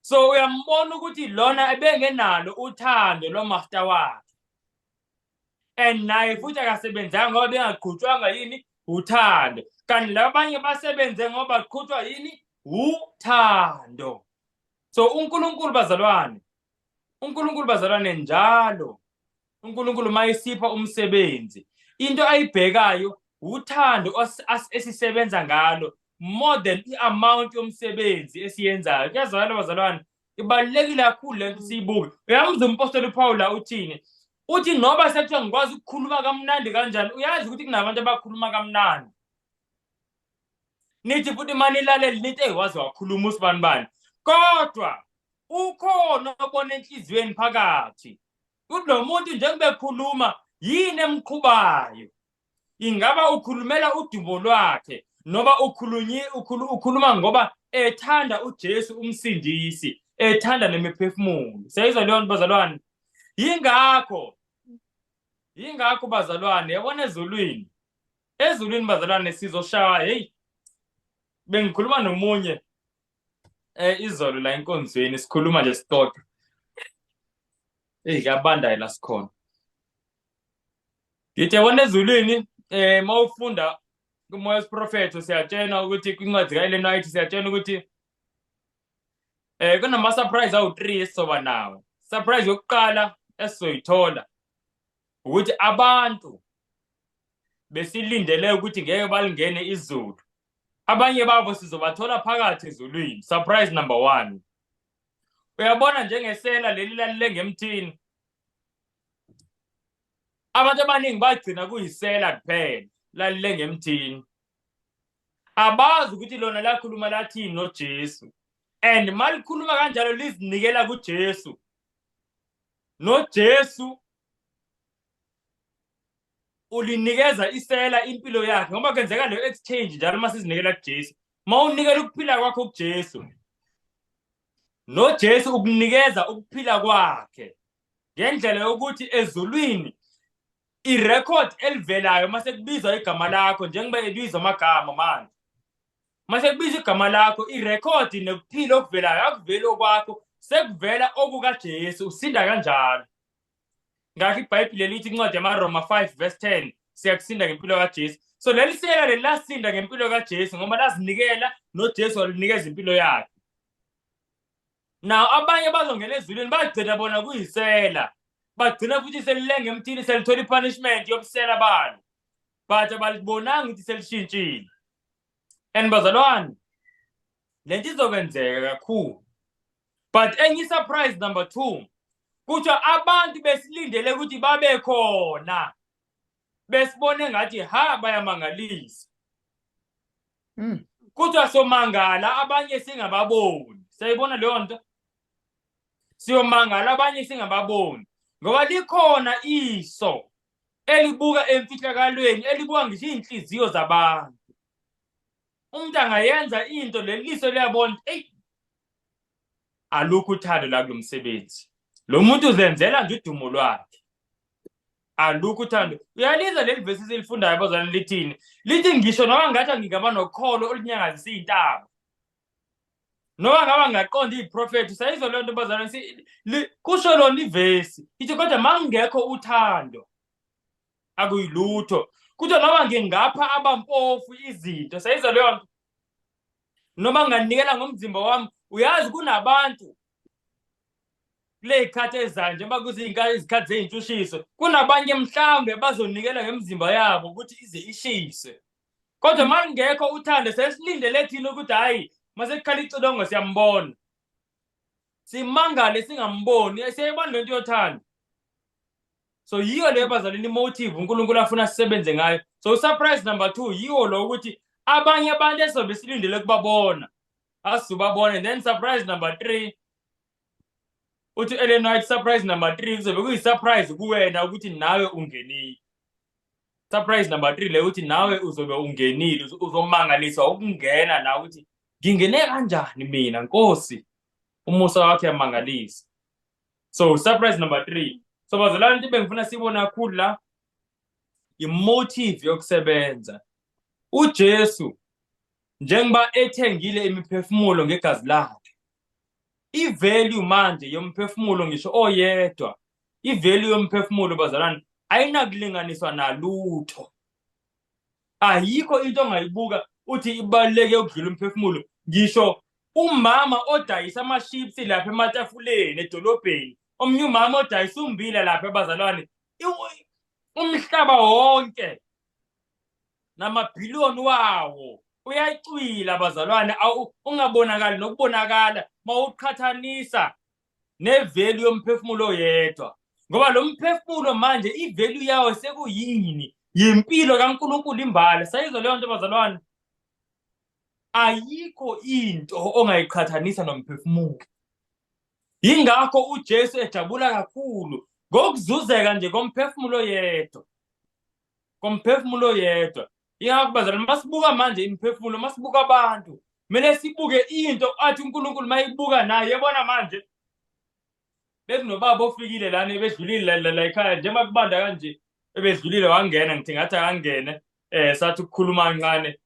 so uyambona ukuthi lona ebengenalo uthando lomasta wakhe and naye futhi akasebenzanga ngoba bengaqhutshwanga yini uthando kanti laba abanye basebenze ngoba qhutshwa yini uthando so uNkulunkulu bazalwane uNkulunkulu bazalwane njalo uNkulunkulu uma esipha umsebenzi into ayibhekayo uthando esisebenza ngalo more than i-amount yomsebenzi esiyenzayo kuyazwakala bazalwane ibalulekile kakhulu le nto siyibuke uyamuzwa umpostoli uphawula uthini uthi noba sekuthiwa ngikwazi ukukhuluma kamnandi kanjani uyazi ukuthi kunabantu abakhuluma kamnandi nithi futhi uma nilaleli nithi eyi waze wakhuluma usibani bani kodwa ukhona obona enhliziyweni phakathi Kuthi lo muntu njengoba ekhuluma yini emqhubayo? Ingaba ukhulumela udumo lwakhe noma ukhulunyi ukhulu, ukhuluma ngoba ethanda uJesu umsindisi, ethanda nemiphefumulo. Siyayizwa leyo nto bazalwane. Yingakho yingakho bazalwane yabona ezulwini. Ezulwini bazalwane sizoshaya hey bengikhuluma nomunye Eh izolo la enkonzweni sikhuluma nje sixoxa. Ey kuyabanda la sikhona. Ngithe wona ezulwini eh mawufunda kumoya wesiprofeto siyatshena ukuthi kwincwadi kaElena White siyatshena ukuthi eh kunama surprise awu3 esizoba nawo. Surprise yokuqala esizoyithola ukuthi abantu besilindele ukuthi ngeke balingene izulu abanye babo sizobathola phakathi ezulwini surprise number one uyabona njengesela leli lalile ngemthini abantu abaningi bagcina kuyisela kuphela lalile ngemthini abazi ukuthi lona lakhuluma lathini nojesu and uma likhuluma kanjalo lizinikela kujesu nojesu ulinikeza isela impilo yakhe ngoba kenzeka leyo exchange njalo uma sizinikela kuJesu uma unikela ukuphila kwakho kuJesu noJesu ukunikeza ukuphila kwakhe ngendlela yokuthi ezulwini irecord elivelayo mase kubizwa igama lakho njengoba ebizwa amagama manje mase kubizwa igama lakho irecord nekuphila okuvelayo akuveli okwakho sekuvela okukaJesu usinda kanjalo ngakho ibhayibhile lithi incwadi yamaroma 5 verse 10 siyakusinda ngempilo kajesu so leli sela leli lasinda ngempilo kajesu ngoba lazinikela nojesu walinikeza impilo yakhe naw abanye bazongena ezulwini bagcina bona kuyisela bagcina futhi selilenge emthini selithola i-punishment yobusela balo but abalibonanga ukuthi selishintshile and bazalwane le nto izokwenzeka kakhulu but enye surprise number 2 kuthiwa abantu besilindele ukuthi babe khona besibone ngathi ha bayamangalisa mm. kuthiwa somangala abanye singababoni sayibona leyo nto siyomangala abanye singababoni ngoba likhona iso elibuka emfihlakalweni elibuka ngisho iy'nhliziyo zabantu umuntu angayenza into leliso liyabona eyi alukho uthando la kulo msebenzi lo muntu uzenzela nje udumo lwakhe alukho uthando uyaliza leli vesi silifundayo bazalwane lithini lithi ngisho noma ngathi angingaba nokholo olunyangazisa iy'ntaba noma ngaba ngaqonda iy'profethi sayizwa leyo nto bazalwane kusho lona ivesi ithi kodwa ma ngingekho uthando akuyilutho kuthiwa noma ngingapha abampofu izinto sayiza leyo nto noma nginganikela ngomzimba wami uyazi kunabantu kuley'khathi ezayo njengoba kuziyizikhathi zey'ntshushiso kunabanye mhlawumbe bazonikela ngemizimba yabo ukuthi ize ishise kodwa uma lingekho uthando sesilindele thina ukuthi hhayi masekukhala icilongo siyambona simangale singamboni siyayibona le nto yothando so yiyo leyo bazalini imotive unkulunkulu afuna sisebenze ngayo so usurprise number two yiwo lo ukuthi abanye abantu esobe silindele kubabona asizobabona then surprise number three uthi u-ellen white surprise number three kuzobe kuyi-surprise kuwena ukuthi nawe ungenile surprise number three leyo ukuthi nawe uzobe ungenile uzomangaliswa ukungena la ukuthi ngingene kanjani mina nkosi umusa wakhe yamangalisa so surprise number three so bazalwane into bengifuna siyibone kakhulu la imotive yokusebenza ujesu njengoba ethengile imiphefumulo ngegazi lakhe ivalue manje yomphefumulo ngisho oyedwa ivalue yomphefumulo bazalwane ayinakulinganiswa nalutho ayikho into ongayibuka uthi ibaluleke ukudlula umphefumulo ngisho umama odayisa amaships lapha ematafuleni edolobheni omunye umama odayisa umbila lapha ebazalwane umhlaba wonke namabhiliyoni wawo uyacwila abazalwane ungabonakali nokubonakala mawuqhathanisa nevelu yomphefumulo oyedwa ngoba lo mphefumulo manje ivelu yawo sekuyini yimpilo kaNkulunkulu imbala sayizwa leyo nto bazalwane ayikho into ongayiqhathanisa nomphefumulo yingakho uJesu ejabula kakhulu ngokuzuzeka nje komphefumulo yedwa ngomphefumulo oyedwa yingakho bazalwane masibuka manje imiphefumulo masibuka abantu kumele sibuke into athi unkulunkulu mayibuka naye yebona manje bekunobaba ofikile lana ebedlulile la ekhaya njengoba kubanda kanje ebedlulile wangena ngithi ngathi akangene um sathi ukukhuluma kancane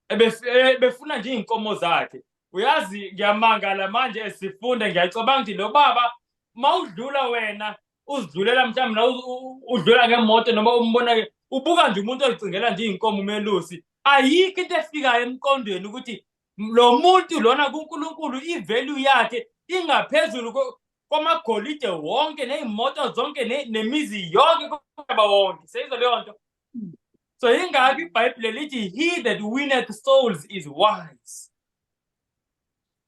eh, befuna nje iy'nkomo zakhe uyazi ngiyamangala manje sifunda ngiyacabanga ukuthi lo baba mawudlula wena uzidlulela mhlawumbe la u- u- udlula ngemoto noma umbona ke ubuka nje umuntu ozicingela nje iy'nkomo umelusi ayikho into efikayo emqondweni ukuthi lo muntu lona kunkulunkulu i-value yakhe ingaphezulu ko- kwamagolide wonke ney'moto zonke ne- nemizi yonke komhlaba wonke seyizo leyo nto so yingakho ibhayibhile lithi he that winneth souls is wise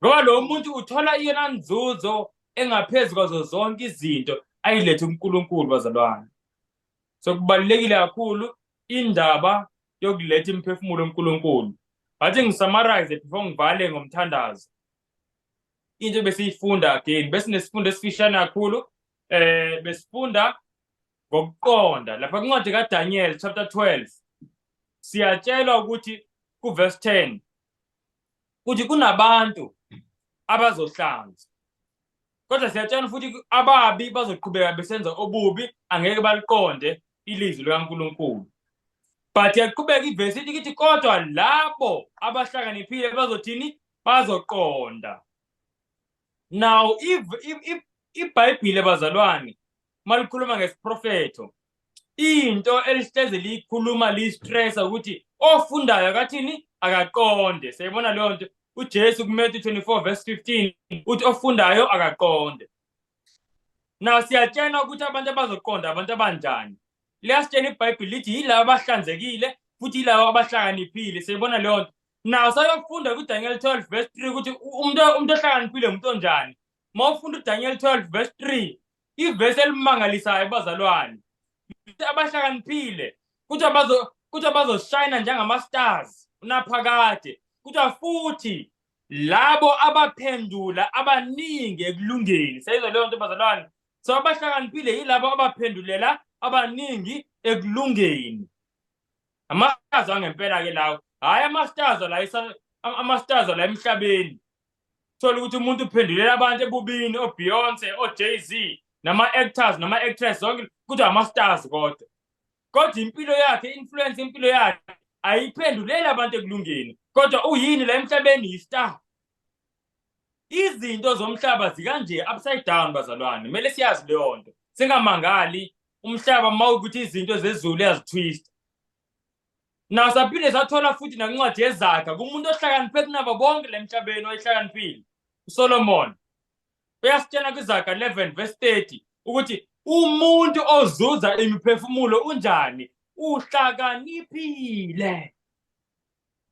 ngoba lo muntu uthola iyona nzuzo engaphezu kwazo zonke izinto ayilethe uNkulunkulu bazalwane so kubalulekile kakhulu indaba yokuletha imiphefumulo uNkulunkulu ngathi ngisamarize before ngivale ngomthandazo into ebesiyifunda again besinesifundo esifishane kakhulu eh besifunda ngokuqonda lapha kwincwadi kaDaniel chapter 12 siyatshelwa ukuthi kuverse 10 ukuthi kunabantu abazohlanza kodwa siyatshana futhi ababi bazoqhubeka besenza obubi angeke baliqonde ilizwi likaNkulunkulu but yaqhubeka ivesi ithi kithi kodwa labo abahlakaniphile bazothini bazoqonda now ibhayibhile bazalwane malikhuluma ngesiprofetho into elihleze liyikhuluma liyistressa ukuthi ofundayo akathini akaqonde siyayibona leyo nto ujesu kumatthew 24 verse 15 uthi ofundayo akaqonde na siyatshelwa ukuthi abantu abazoqonda abantu abanjani liyasitshela ibhayibhile lithi yilabo abahlanzekile futhi yilabo abahlakaniphile siyayibona leyo nto nawo sayokufunda kudaniel 12 verse 3 ukuthi umuntu umuntu ohlakaniphile umuntu onjani uma ufunda udaniel 12 verse 3 ivesi elimangalisayo bazalwane abahlakaniphile kuthiwa bazo kuthiwa bazoshayina njengama-stars unaphakade kuthiwa futhi labo abaphendula abaningi ekulungeni sayizwa leyo nto bazalwane so abahlakaniphile yilabo abaphendulela abaningi ekulungeni amastars angempela-ke lawo hhayi amastars la amastars la emhlabeni thola ukuthi umuntu uphendulela abantu ebubini oBeyonce oJay-Z nama-actors nama-actress zonke kuthi ama-stars kodwa kodwa impilo yakhe influence impilo yakhe ayiphenduleli abantu ekulungeni kodwa uyini la emhlabeni yi-star izinto zomhlaba zikanje upside down bazalwane kumele siyazi leyo nto singamangali umhlaba uma ukuthi izinto zezulu yazitwista na saphinde sathola futhi nakuncwadi yezaga kumuntu ohlakaniphe kunabo bonke le mhlabeni oyihlakaniphile usolomoni uyasitshela kwizaga 11 verse 30 ukuthi umuntu ozuza imiphefumulo unjani uhlakaniphile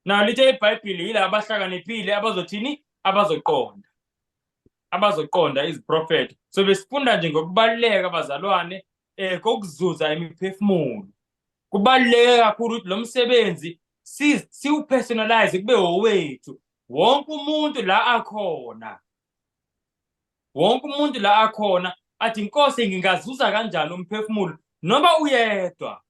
nalo lithe ibhayibhile yila abahlakaniphile abazothini abazoqonda abazoqonda iziprofetho so besifunda nje ngokubaluleka abazalwane eh kokuzuza imiphefumulo kubaluleke kakhulu ukuthi lo msebenzi siwupersonalize kube owethu wonke umuntu la akhona wonke umuntu la akhona athi inkosi ngingazuza kanjani umphefumulo noma uyedwa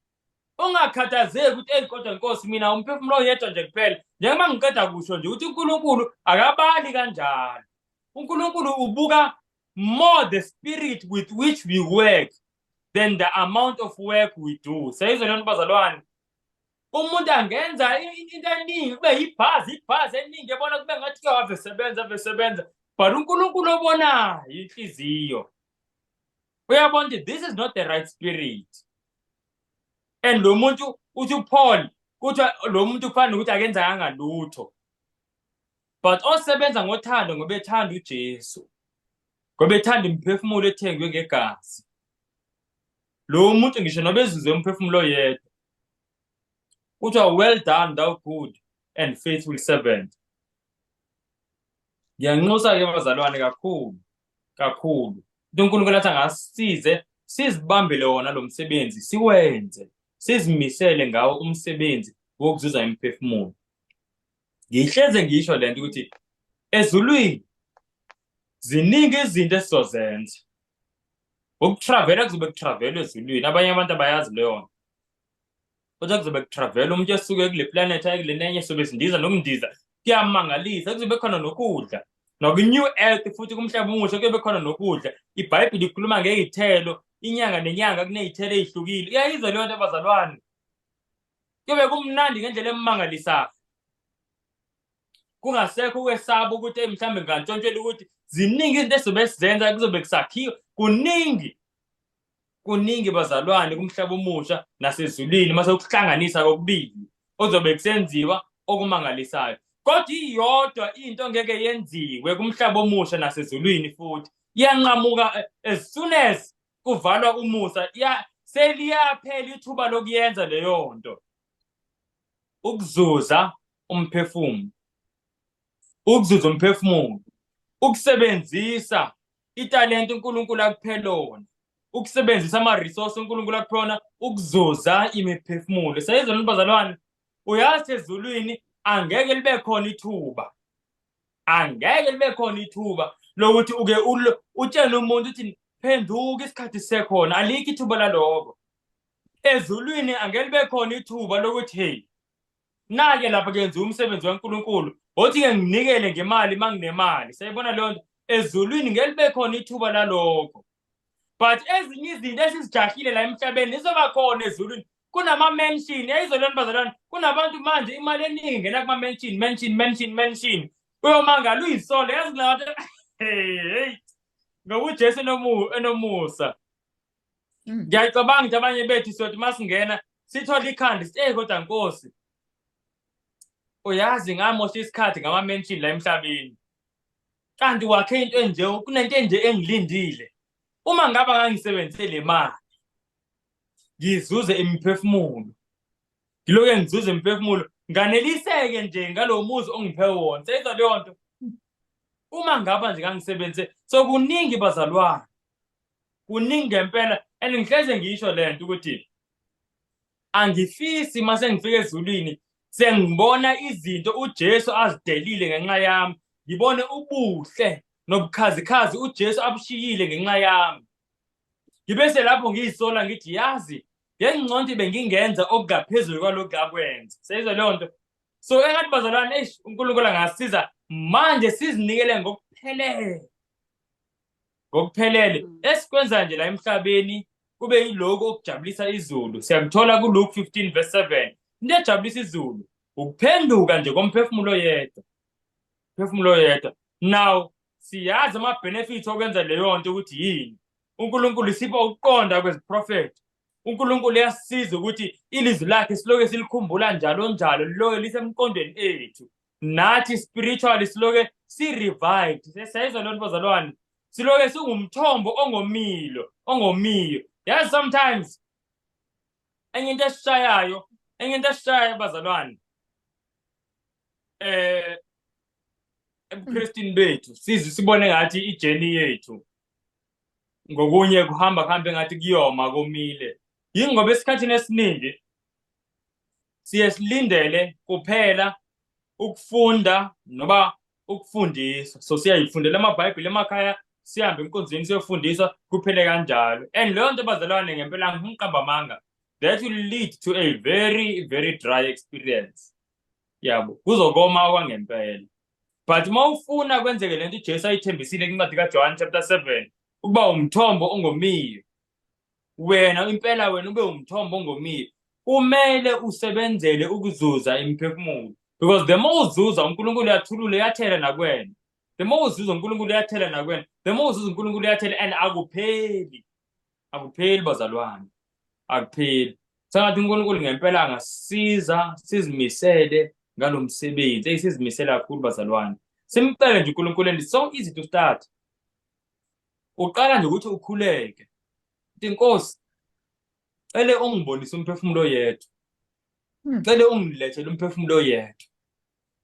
ungakhathazeki ukuthi eyi kodwa nkosi mina umphefumulo oyedwa nje kuphela njengoba ngiqeda kusho nje ukuthi unkulunkulu akabali kanjalo unkulunkulu ubuka more the spirit with which we work than the amount of work we do seyizwe lento bazalwane umuntu angenza into eningi kube yibhazi ibhazi eningi ebona kube ngathi ke wave sebenza ave sebenza but unkulunkulu obonayo inhliziyo uyabona ukuthi this is not the right spirit and lo muntu uthi upaul kuthiwa lo muntu kufanele ukuthi akenzakanga lutho but osebenza ngothando ngoba ethanda uJesu ngoba ethanda imiphefumulo ethengwe ngegazi lo muntu ngisho noba ezizwe umphefumulo oyedwa kuthiwa well done thou good and faithful servant ngiyanxusa-ke bazalwane kakhulu kakhulu into unkulunkulu athi angasize sizibambele wona lo msebenzi siwenze sizimisele ngawo umsebenzi wokuzuza imiphefumulo ngihleze ngisho lento ukuthi ezulwini ziningi izinto esizozenza ukutravela kuzobe kutravelwa ezulwini abanye abantu abayazi leyo nto kodwa kuzobe kutravelwa umuntu esuke kule planet aye kule nenye sobe sindiza nokundiza kuyamangalisa kuzobe khona nokudla noku-new earth futhi kumhlaba omusha kuyobe khona nokudla ibhayibhile ikhuluma ngey'thelo inyanga nenyanga kuney'thelo ey'hlukile iyayizwa leyo nto abazalwane Kube kumnandi ngendlela emangalisayo. Kungasekho ukwesaba ukuthi hey mhlambe ngantshontshela ukuthi ziningi izinto ezobe sizenza kuzobe kusakhiwa kuningi kuningi bazalwane kumhlaba omusha nasezulwini mase ukuhlanganisa kokubili ozobe kusenziwa okumangalisayo kodwa iyodwa into ngeke yenziwe kumhlaba omusha nasezulwini futhi iyanqamuka eh, as soon as kuvalwa umusa ya seliyaphela ithuba lokuyenza leyo nto ukuzuza umphefumulo ukuzuza umphefumulo ukusebenzisa italente uNkulunkulu akuphe lona ukusebenzisa ama-resource uNkulunkulu akuphe wona ukuzuza imiphefumulo seyizona bazalwane uyazi ezulwini angeke libe khona ithuba angeke libe khona ithuba lokuthi uke utshele umuntu ukuthi phenduka isikhathi sisekhona alikho ithuba laloko ezulwini angeke libe khona ithuba lokuthi hey nake lapha kenza umsebenzi waNkulunkulu othi ke nginikele ngemali manginemali sayibona leyo nto ezulwini ngeke libe khona ithuba laloko but ezinye izinto esizijahile la emhlabeni izoba khona ezulwini kunama-mention yayizolweni bazalwane kunabantu manje imali eningi ngena kuma-mention mention mention mention uyomangala uyisole yazi kunabantu hey ngokujesu enomusa mm. ngiyacabanga ukuthi abanye bethu siyothi uma singena sithole ikhanda sithi eyi kodwa nkosi uyazi ngamosha isikhathi ngama-mention la emhlabeni kanti wakhe into enje kunento enje engilindile uma ngaba ngangisebenzise le mali ngizuze imiphefumulo ngiloke ngizuze imiphefumulo nganeliseke nje ngalo muzi ongiphe wona seyizwa leyo nto uma ngaba nje ngangisebenzise so kuningi bazalwane kuningi ngempela and ngihleze ngisho le nto ukuthi angifisi uma sengifika ezulwini Sengibona izinto uJesu azidelile ngenxa yami. Ngibone ubuhle nobukhazikhazi uJesu abushiyile ngenxa yami. Ngibe selapho ngiyisola ngithi yazi ngengconti bengingenza okungaphezulu kwalokhu akwenza. Seyizwa leyo nto. So engathi bazalwane eish uNkulunkulu angasiza manje sizinikele ngokuphelele. ngokuphelele mm. esikwenza nje la emhlabeni kube yiloko okujabulisa izulu siyakuthola kuLuke 15 verse 7 into ejabulisa izulu ukuphenduka nje komphefumulo yedwa phefumulo yedwa now siyazi ama benefits okwenza leyo nto ukuthi yini uNkulunkulu isipha ukuqonda kweziprofethi uNkulunkulu uyasiza ukuthi ilizwi lakhe siloke silikhumbula njalo njalo liloke lisemqondweni ethu nathi spiritually siloke si-revived siyayizwa loo nto bazalwane siloke singumthombo ongomilo ongomiyo yazi sometimes enye into esishayayo enye into esishayayo bazalwane eh ebukristini bethu sizi sibone ngathi ijeni yethu ngokunye kuhamba kuhambe ngathi kuyoma komile yingoba esikhathini esiningi siye silindele kuphela ukufunda noba ukufundiswa so siyayifundela amabhayibhile emakhaya sihambe emkonzweni siyofundiswa kuphele kanjalo and leyo nto bazalwane ngempela ngimqamba amanga that will lead to a very very dry experience yabo kuzokoma okwangempela but uma ufuna kwenzeke le nto ujesu ayithembisile kwincwadi kajohane chapter 7 ukuba umthombo ongomiyo wena impela wena ube umthombo ongomile kumele usebenzele ukuzuza imiphefumulo because the more uzuza uNkulunkulu uyathulula uyathela nakwena the more uzuza uNkulunkulu uyathela nakwena the more uzuza uNkulunkulu uyathela and akupheli akupheli bazalwane akupheli sengathi uNkulunkulu ngempela angasiza sizimisele ngalo msebenzi eyi sizimisele kakhulu bazalwane simcele nje uNkulunkulu and it's so easy to start uqala nje ukuthi ukhuleke uthi nkosi cele ungibonise umphefumulo yethu hmm. cele ungilethele umphefumulo yethu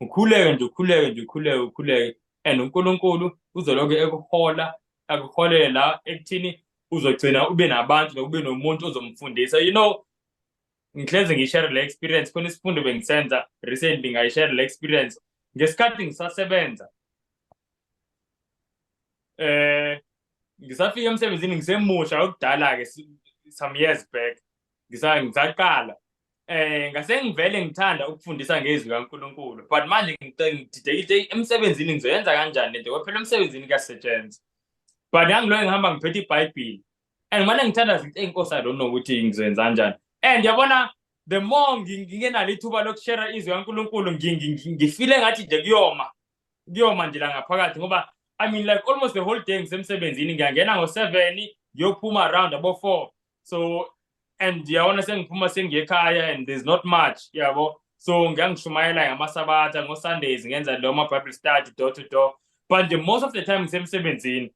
ukhuleke nje ukhuleke nje ukhuleke ukhuleke and uNkulunkulu uzoloke ekuhola akuholele la ekuthini uzogcina ube nabantu nokube nomuntu ozomfundisa you know ngihlezi ngishare le experience khona isifundo bengisenza recently ngayishare le experience ngesikhathi ngisasebenza eh ngisafika emsebenzini ngisemusha okudala ke some years back ngisaqala eh ngase ngivele ngithanda ukufundisa ngezwi kaNkuluNkulu but manje ngididekile emsebenzini ngizoyenza kanjani lento kwaphela emsebenzini kuyasetshenzwa but yangiloyo ngihamba ngiphethe iBhayibheli and mane ngithanda zithi enkosi i don't know ukuthi ngizoyenza kanjani and yabona the more ngingenalo ithuba lokushera izwi kaNkulunkulu ngifile ngathi nje kuyoma kuyoma nje la ngaphakathi ngoba i mean like almost the whole day ngisemsebenzini ngiyangena ngo-seven ngiyophuma around abo-four so and yabona sengiphuma sengiyekhaya and there's not much yabo so ngiyangishumayela ngamasabatha ngo-sundays ngenza lo ma-bible study door to door but the most of the time ngisemsebenzini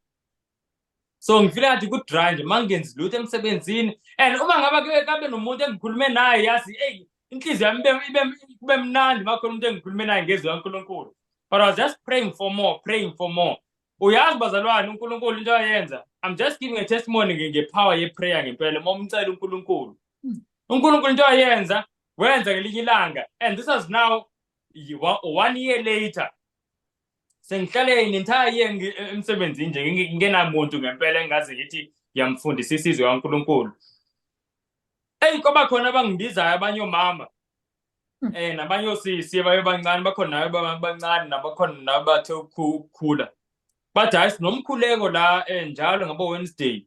so ngifile ngathi ku-dry nje uma ngenzi lutho emsebenzini and uma ngaba kabe nomuntu engikhulume naye yazi eyi inhliziyo yami kube mnandi uma khona umuntu engikhulume naye ngezwi kankulunkulu but i was just praying for more praying for more uyazi bazalwane unkulunkulu into ayenza i'm just giving a testimony ngepower yeprayer ngempela uma umcela unkulunkulu hmm. unkulunkulu into ayenza wenza ngelinye ilanga and this is now one year later sengihlale nentire year ngi- e- emsebenzini nje ngi- ngingenamuntu ngempela engazi ngithi ngiyamfundisa isizwe kaNkulunkulu eyi kwaba khona abangibizayo abanye omama Mm. eh nabanye osisi abaye bancane bakhona nayo ba- bancane nabakhona nayo bathe ukhu- ukukhula bathi hayi sinomkhuleko la eh, njalo ngabo Wednesday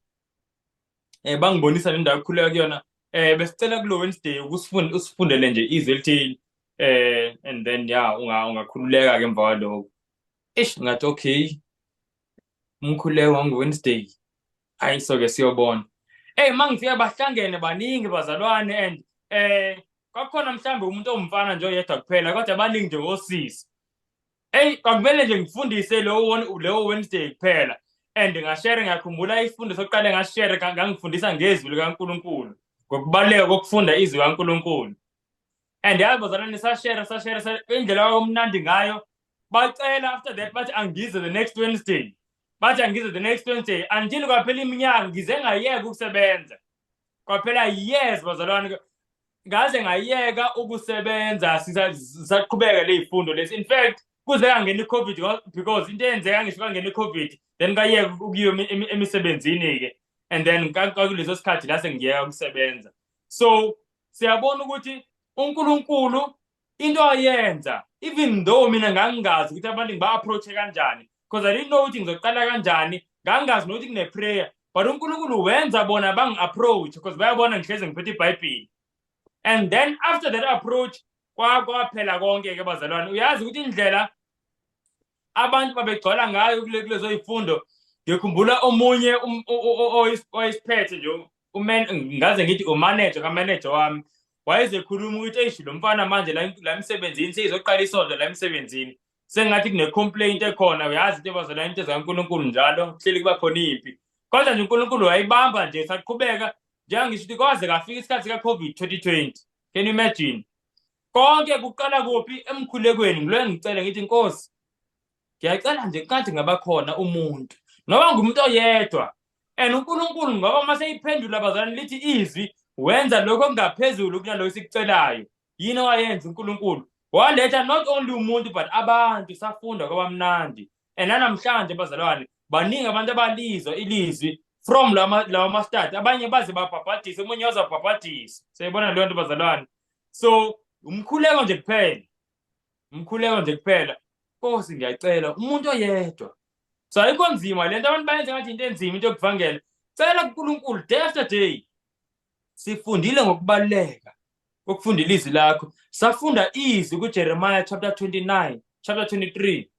eh bangibonisa le ndawo ekhuleka kuyona eh besicela kulo Wednesday ukusifunda usifundele nje izwi elithile eh and then ya unga ungakhululeka ke emva kwaloko ish ngathi okay umkhuleko wangu Wednesday hayi so ke siyobona eh mangifika bahlangene baningi bazalwane and eh kwakhona mhlambe umuntu omfana nje oyedwa kuphela kodwa baningi nje osisi Eyi kwakumele nje ngifundise lowo leyo Wednesday kuphela and ngashere ngakhumbula isifundo sokuqale ngashere ngangifundisa ngezwi likaNkulunkulu ngokubaluleka kokufunda izwi kaNkulunkulu and yazi bazalwane sashere sashere indlela kwakumnandi ngayo bacela after that bathi angize the next Wednesday bathi angize the next Wednesday until kwaphela iminyaka ngize ngayeka ukusebenza kwaphela years bazalwane ngaze ngayeka ukusebenza sisaqhubeka ley'fundo lesi in fact kuze kangena i-covid because into eyenzeka ngisho kangena i-covid then kayeka ukuyo emisebenzini-ke and then kakuleso sikhathi la sengiyeka ukusebenza so siyabona ukuthi uNkulunkulu into ayenza even though mina ngangingazi ukuthi abantu ngiba-approach-e kanjani because i didn't know ukuthi ngizoqala kanjani ngangingazi nokuthi kune-prayer but unkulunkulu wenza bona bangi-approach because bayabona ngihlezi ngiphethe ibhayibhili and then after that approach kwaphela konke-ke bazalwane uyazi ukuthi indlela abantu babegcwala ngayo kulezo ifundo ngikhumbula omunye um, oyisiphethe nje ngaze ngithi umanager kamanager wami wayezekhuluma ukuthi eish lo mfana manje la emsebenzini seyizoqala isonto la emsebenzini sengathi kune-complaint ekhona uyazi into ebazela into zikankulunkulu njalo hleli kuba khona impi kodwa nje unkulunkulu wayibamba nje saqhubeka njengangisho ukuthi kwaze kafika isikhathi sika-covid 2020 can you imagine konke kuqala kuphi emkhulekweni ngiloye ngicele ngithi nkosi ngiyacela nje kade ngabakhona umuntu noba ngumuntu oyedwa and unkulunkulu ngoba uma seyiphendula abazalwane lithi izwi wenza lokho okungaphezulu kunalokho esikucelayo yini owayenza unkulunkulu waletha not only umuntu but abantu safunda kwabamnandi and nanamhlanje bazalwane baningi abantu abalizwa ilizwi from lawa mastadi abanye baze babhabhadise omunye wazabhabhadisa siyayibona leyo nto bazalwane so umkhuleko nje kuphela umkhuleko nje kuphela nkosi ngiyacela umuntu oyedwa so ayikho nzima le nto abantu bayenze ngathi into enzima into yokuvangela cela kunkulunkulu day after day sifundile ngokubaluleka kokufundela izwi lakho safunda izwi kujeremiya chapter 29 chapter 23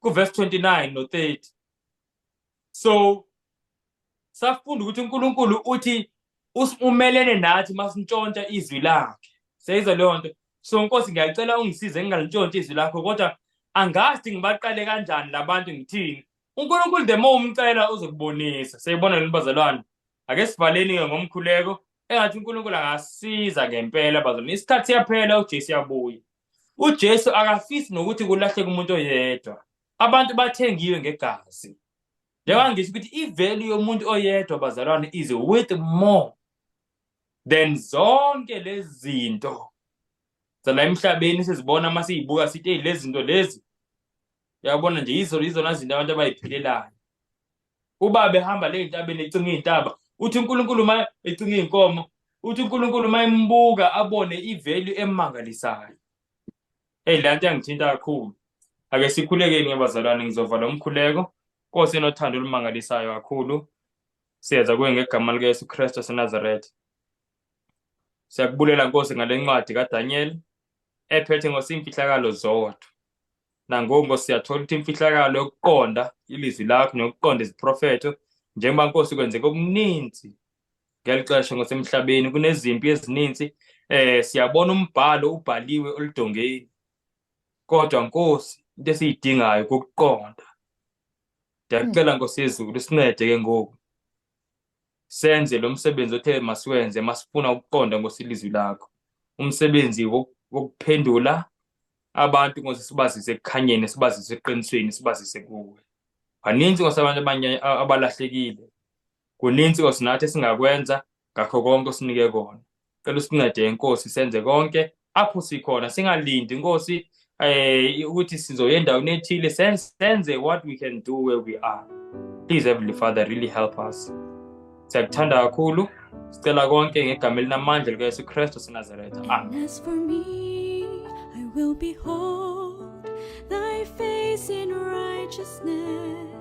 kuverse 29 no 30 so safunda ukuthi uNkulunkulu uthi umelene nathi masintshontsha izwi lakhe seyizwa leyo nto so nkosi ngiyacela ungisize ngingalintshontsha izwi lakho kodwa angazi ngibaqale kanjani labantu ngithini uNkulunkulu the more umcela uzokubonisa seyibona yini bazalwane ake sivaleni ke ngomkhuleko engathi uNkulunkulu angasiza ngempela bazalwane isikhathi siyaphela uJesu yabuya uJesu akafisi nokuthi kulahleke umuntu oyedwa abantu bathengiwe ngegazi njengoba ngisho ukuthi ivelu yomuntu oyedwa bazalwane is worth more than zonke lezi zinto zala emhlabeni sizibona uma siyibuka sithi eyi lezi zinto lezi uyabona nje yizo yizona zinto abantu abayiphelelayo uba behamba le ntabeni ecinga iy'ntaba uthi unkulunkulu uma ecinga iy'nkomo uthi unkulunkulu uma embuka abone ivalue emangalisayo Eyi le nto yangithinta kakhulu. Ake sikhulekeni ngabazalwane ngizova lo mkhuleko. Nkosi enothando olumangalisayo kakhulu. Siyenza kuwe ngegama likaYesu Kristu waseNazaretha. Siyakubulela Nkosi ngale ncwadi kaDaniel ephethe ngosimfihlakalo zodwa. Nangoku Nkosi siyathola ukuthi imfihlakalo yokuqonda ilizwi lakho nokuqonda iziprofetho njengoba Nkosi kwenzeka okuninzi ngeli xesha ngosemhlabeni kunezimpi ezininzi eh siyabona umbhalo ubhaliwe oludongeni kodwa nkosi into esiyidingayo ukuqonda ndiyacela nkosi yezulu sincede ke ngoku senze lo msebenzi othe masiwenze masifuna ukuqonda nkosi ilizwi lakho umsebenzi wokuphendula abantu nkosi sibazise ekukhanyeni sibazise eqinisweni sibazise kuwe baninzi nkosi abantu abanye abalahlekile Kuninzi Nkosi nathi esingakwenza ngakho konke osinike kona. Cela usincede Nkosi senze konke apho sikhona singalindi Nkosi eh ukuthi sizoya endaweni ethile senze what we can do where we are. Please Heavenly Father really help us. Siyakuthanda kakhulu. Sicela konke ngegama elinamandla likaYesu Kristu seNazaretha. Amen. As for me, I will behold thy face in righteousness.